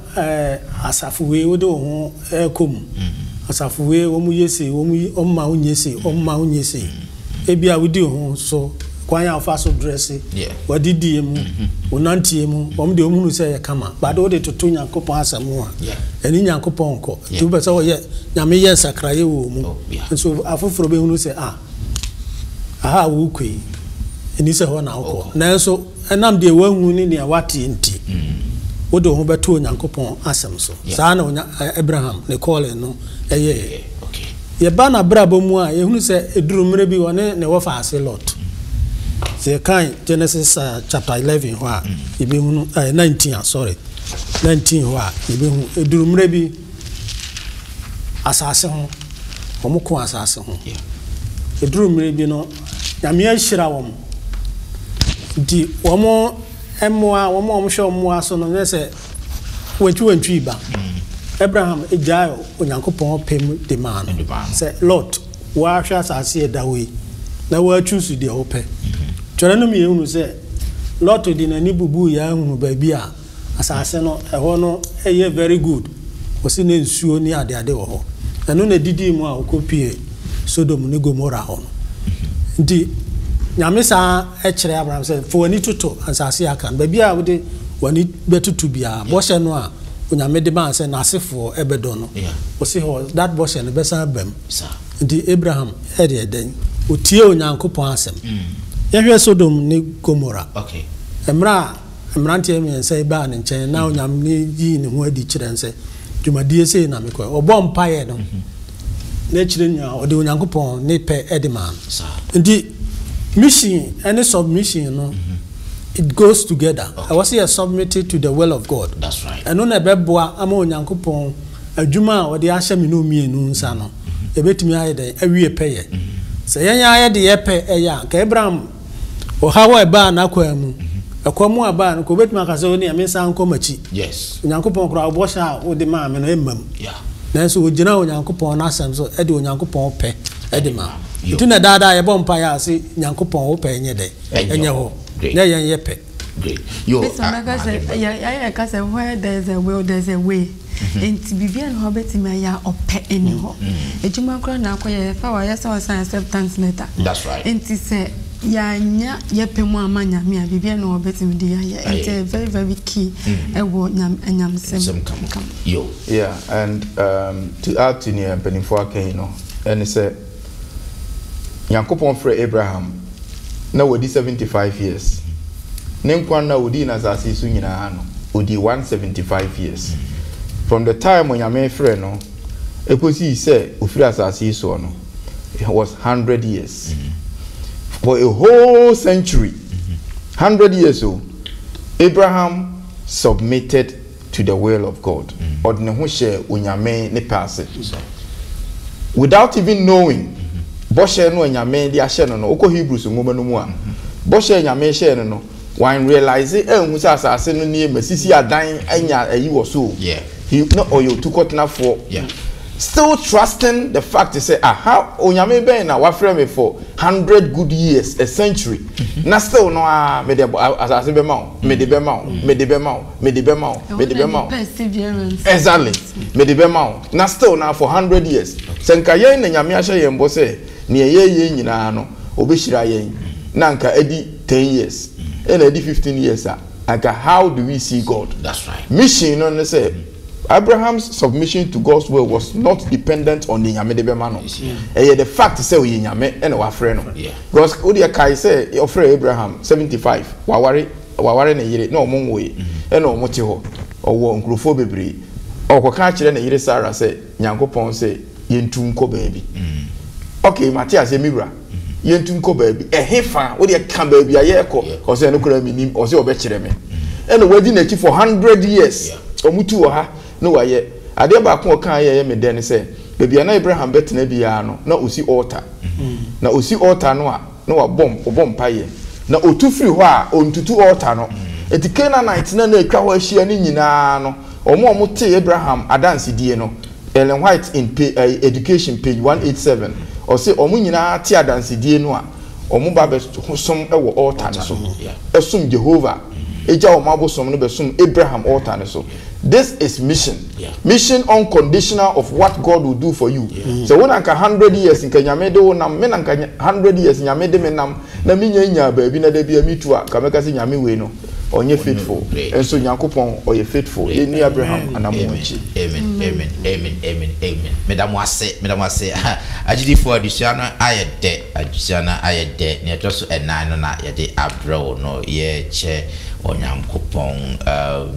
asafo wei wode wo ho rekɔ mu? Mm-hmm. Asafo wei wɔn yɛ sei, wɔn yi wɔn ma wonyɛ sei, wɔn mm-hmm. ma wonyɛ sei. Mm-hmm. Ebi a wodi ho so kwan a wofa so drɛse, wadidie mu, wonanteɛ mu, wɔn deɛ wɔn hunu sɛ yɛ kama. Bade wode toto Nyankopɔn asɛm ho a, ɛne Nyankopɔn nkɔ. Nti wopɛ sɛ wɔyɛ Nyame yɛ nsakraeɛ wɔ mu. Oh. Nanso afoforo bɛhunu sɛ, Ah, ɛha a worekɔ yi, ɛnni sɛ ɛhɔ na wokɔ. Nanso ɛnam deɛ woahu ne nea woate nti, wode wo ho bɛto Onyankopɔn asɛm so. Saa na Abraham, ne calling no yɛeɛ. Yɛba n'abrabɔ mu a, yɛhunu sɛ ɛduruu mmerɛ bi, ɔne ne wɔfaa ase Lot. Sɛ yɛkan Genesis chapter eleven hɔ a, yɛbɛhunu, ɛɛ, nineteen, sorry, nineteen hɔ a, yɛbɛhu, ɛduruu mmerɛ bi, Asase ho, wɔko asase ho. Ɛduru mmerɛ bi no, Nyame ahyira wɔn. Nti wɔn mmoa, wɔn a wɔhwɛ wɔn mmoa so no, na sɛ wantwi wantwi ba. Abraham gyae Onyankopɔn pɛ mu de maa no. Sɛ, Lot, woahwɛ asase a ɛda hɔ yi, na woachuusu deɛ wopɛ. Twerɛ no ma yɛhunu sɛ, Lot de n'ani bubuiɛ ara hunuu baabi a. Asase no, ɛhɔ no yɛ very good, wɔse na nsuo ne adeade wɔ hɔ. Ɛno na ɛdidii mu a wɔkɔpuee Sodom ne Gomora hɔ no. Nti Nyame san kyerɛɛ Abraham sɛ, fa w'ani toto ansase a aka no, baabi a wode w'ani bɛtoto biara, bɔhyɛ no a Onyame de maa sɛ n'asefoɔ bɛdɔ no, wɔse hɔ, that bɔhyɛ no bɛsan aba mu. Nti Abraham yɛɛ dɛn? Ɔtiee Onyankopɔn asɛm. Yɛnhwɛ Sodom ne Gomora, mmerɛ a. mmeranteɛ mmiɛnsa yi baa ne nkyɛn na onyame ne yii ne ho adi kyerɛ n sɛ dwumadie sei na mekɔɛ ɔbɔ mpaeɛ no n'akyire nyinaa ɔde onyankopɔn ne pɛ de maa no nti mission ɛne submission no it goes together ɛwɔ sɛ yɛ submitted to the will of God ɛno na ɛbɛboa ama onyankopɔn adwuma a ɔde ahyɛ me no mmienu nsa no ɛbɛtumi ayɛ dɛn awie pɛyɛ sɛ yɛn ara yɛde yɛ pɛ ɛyɛ a nka Abraham Ɔhaw a ɛbaa n'akwaa mu, ɛkɔm a ɛbaa no, nka obetumi aka sɛ, Onii, mensan nkɔ m'akyi. Onyankopɔn koraa, wo bɔhyɛ a wode maa me no, ɛmmam. Nanso ogyinaa Onyankopɔn n'Asɛm so de Onyankopɔn pɛ de ma. Nti na daa daa yɛbɔ mpae a, se, Nyankopɔn, wo pɛ nyɛ dɛ? Ɛnyɛ hɔ, nyɛ yɛn yɛ pɛ. Great. Yo, ah, Bishop bɛka sɛ, yɛ, yɛ, yɛka sɛ, Where there is a will, there is a way. Enti biribiara nni hɔ a wobɛtumi ayɛ a ɔpɛ nni hɔ. Adwuma koraa na akɔyɛ, ɛfa a wayɛ sɛ ɔresan acceptance letter. That's right. Enti sɛ yɛannya yɛn pɛ mu amma Nyame a, biribiara nni hɔ a ɔbɛtumi de yɛn ayɛ. Enti ɛyɛ very very key wɔ Nyamesɛm ka mu. Yeah, and to add to nea mpaninfoɔ aka yi no, ɛne sɛ. Nyankopɔn frɛɛ Abraham na wadi seventy five years. Ne nkwa nna a odii no asase yi so nyinaa no, odii one seventy five years. From the time Onyame frɛɛ no kosii sɛ ofiri asase yi soɔ no, he was hundred years. For a whole century, hundred years o, Abraham submitted to the will of God. Ɔde ne ho hyɛɛ Onyame ne pɛ ase. Without even knowing bɔhyɛ no a Nyame de ahyɛ no no. Wokɔ Hebrews nwoma no mu a, bɔhyɛ a Nyame hyɛɛ no no, wan realise anhu sɛ asase no nie, masisi adan anya ayi wɔ so o. He, na ɔyɛ otukɔtenafoɔ. Still trusting the fact sɛ, ah, how, Onyame bɛn na wafrɛ me for hundred good years, a century, na still no ara, mede asase bɛma wo, mede bɛma wo, mede bɛma wo. mede bɛma wo mede bɛma wo exactly mede bɛma wo na still na for hundred years sɛ nka yɛn na nyame ahyɛ yɛn bɔ sɛ nea ɛyɛ yɛn nyinaa no ɔbɛhyira yɛn na nka ɛdi ten years ɛna ɛdi fifteen years a nka how do we see God mission no ne sɛ Abraham's submission to God's will was not dependent on the nyame de bɛma no ɛyɛ the fact sɛ ɔyɛ nyame ɛna wafrɛ no because wodeɛ kae sɛ ɔfrɛ Abraham seventy five waware waware ne yere na wɔn nwoe na wɔn te hɔ, ɔwɔ nkurofoɔ bebree, ɔkɔka akyerɛ ne yere Sarah sɛ Nyankopɔn sɛ yɛntu nkɔ baabi. Ok, mate aseɛ me wura, yɛntu nkɔ baabi, ɛhefa? Wodeɛ ka baabi a yɛrekɔ, ɔse ɛno koraa menim, ɔse ɔbɛkyerɛ me, ɛna wadi n'akyi for hundred years, wɔn tu wɔ ha na wayɛ, adeɛ baako a ɔkaa yɛ ɛyɛ me dɛ ne sɛ baabi a na Abraham bɛtena biara no na ɔsi altar, na ɔsi altar no a, na wabɔ ɔbɔ mpaeɛ, na ɔtu firi hɔ a, ɔntutu altar no. Enti Canaanite no a na atwa hɔ ahyia no nyina ara no, wɔn a wɔtee Abraham adansedie no, Ellen White in pa ɛyi, Education, page 187, ɔse wɔn nyina ara te adansedie no a, wɔn ba bɛsom wɔ altar no so, som Jehovah, gya wɔn abosom no bɛsom Abraham altar no so. This is mission mission unconditional of what God will do for you sɛ wo na nka hundred years nka Nyame de wo nam me na nka hundred years Nyame de me nam na me nya nyaa baabi na dabia me tu a nka mɛka sɛ Nyame wei no ɔnyɛ faithful nso Nyankopɔn ɔyɛ faithful yɛnni Abraham anamɔ akyi. Amen amen amen amen amen meda mo ase meda mo ase agyidifoɔ adesua no ayɛ dɛ adesua no ayɛ dɛ nea ɛtɔ so ɛnan no na yɛde abrɛ wo no yɛkyɛ. Onyankopɔn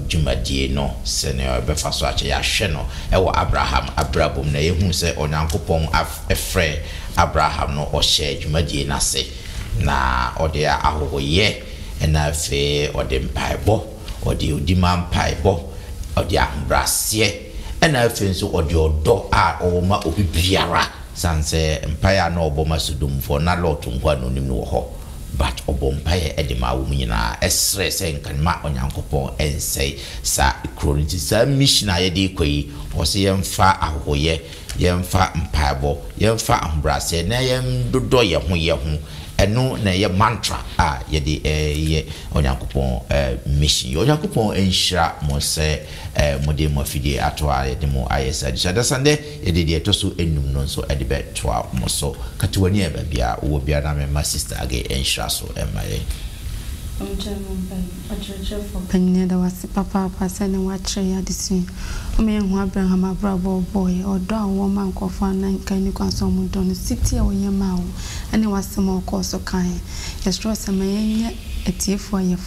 dwumadie no sɛdeɛ ɔbɛfa so akyɛ. Yɛahwɛ no wɔ Abraham abrabɔ mu na yɛhunu sɛ Onyankopɔn frɛɛ Abraham no ɔhyɛɛ dwumadie no ase na ɔde ahɔhoyɛ na afei ɔde mpaebɔ, ɔde ɔdi ma mpaebɔ, ɔde ahobrɛaseɛ ɛna afei nso ɔde ɔdɔ a ɔwɔ ma obi biara. Sane sɛ mpaeɛ a na ɔbɔ ma Sodomfoɔ na Lot nkoa na ɔnim no wɔ hɔ. But ɔbɔɔ mpaeɛ de maa wɔn nyinaa srɛɛ sɛ nka mma Onyankopɔn nsɛe saa kuro no. Nti saa mission a yɛde rekɔ yi, wɔse yɛmfa ahohoyɛ, yɛmfa mpaebɔ, yɛmfa ahobrɛaseɛ na yɛndodɔ yɛn ho yɛn ho. Ɛno na ɛyɛ mantra a yɛde reyɛ Onyankopɔn mission yi. Onyankopɔn nhyira mo sɛ mode mo afidie ato a yɛde mo ayɛ saa adesua. Dasandɛ. Yɛde deɛ ɛtɔ so nnum no nso de bɛtoa mo so. Kata w'ani a baabi a wowɔ biara na memma Sista Agay nhyira so mma yɛn. Ɔnkyɛ no mpaeɛ. Ɔkyerɛkyerɛfoɔ panin yɛda wo ase papaapa sɛnea woakyerɛ yɛn adesua yi. Woma yɛhu Abraham abrabɔ a ɔbɔeɛ, ɔdɔ a ɔwɔ ma nkurɔfoɔ a na nka ɛnni kwan sɛ wɔdɔ no, setie a ɔyɛ maa wɔn, ne w'asɛm a ɔkɔɔ so kaeɛ. Yɛsrɛ wo sɛ ma yɛnyɛ atiefoɔ a yɛfa.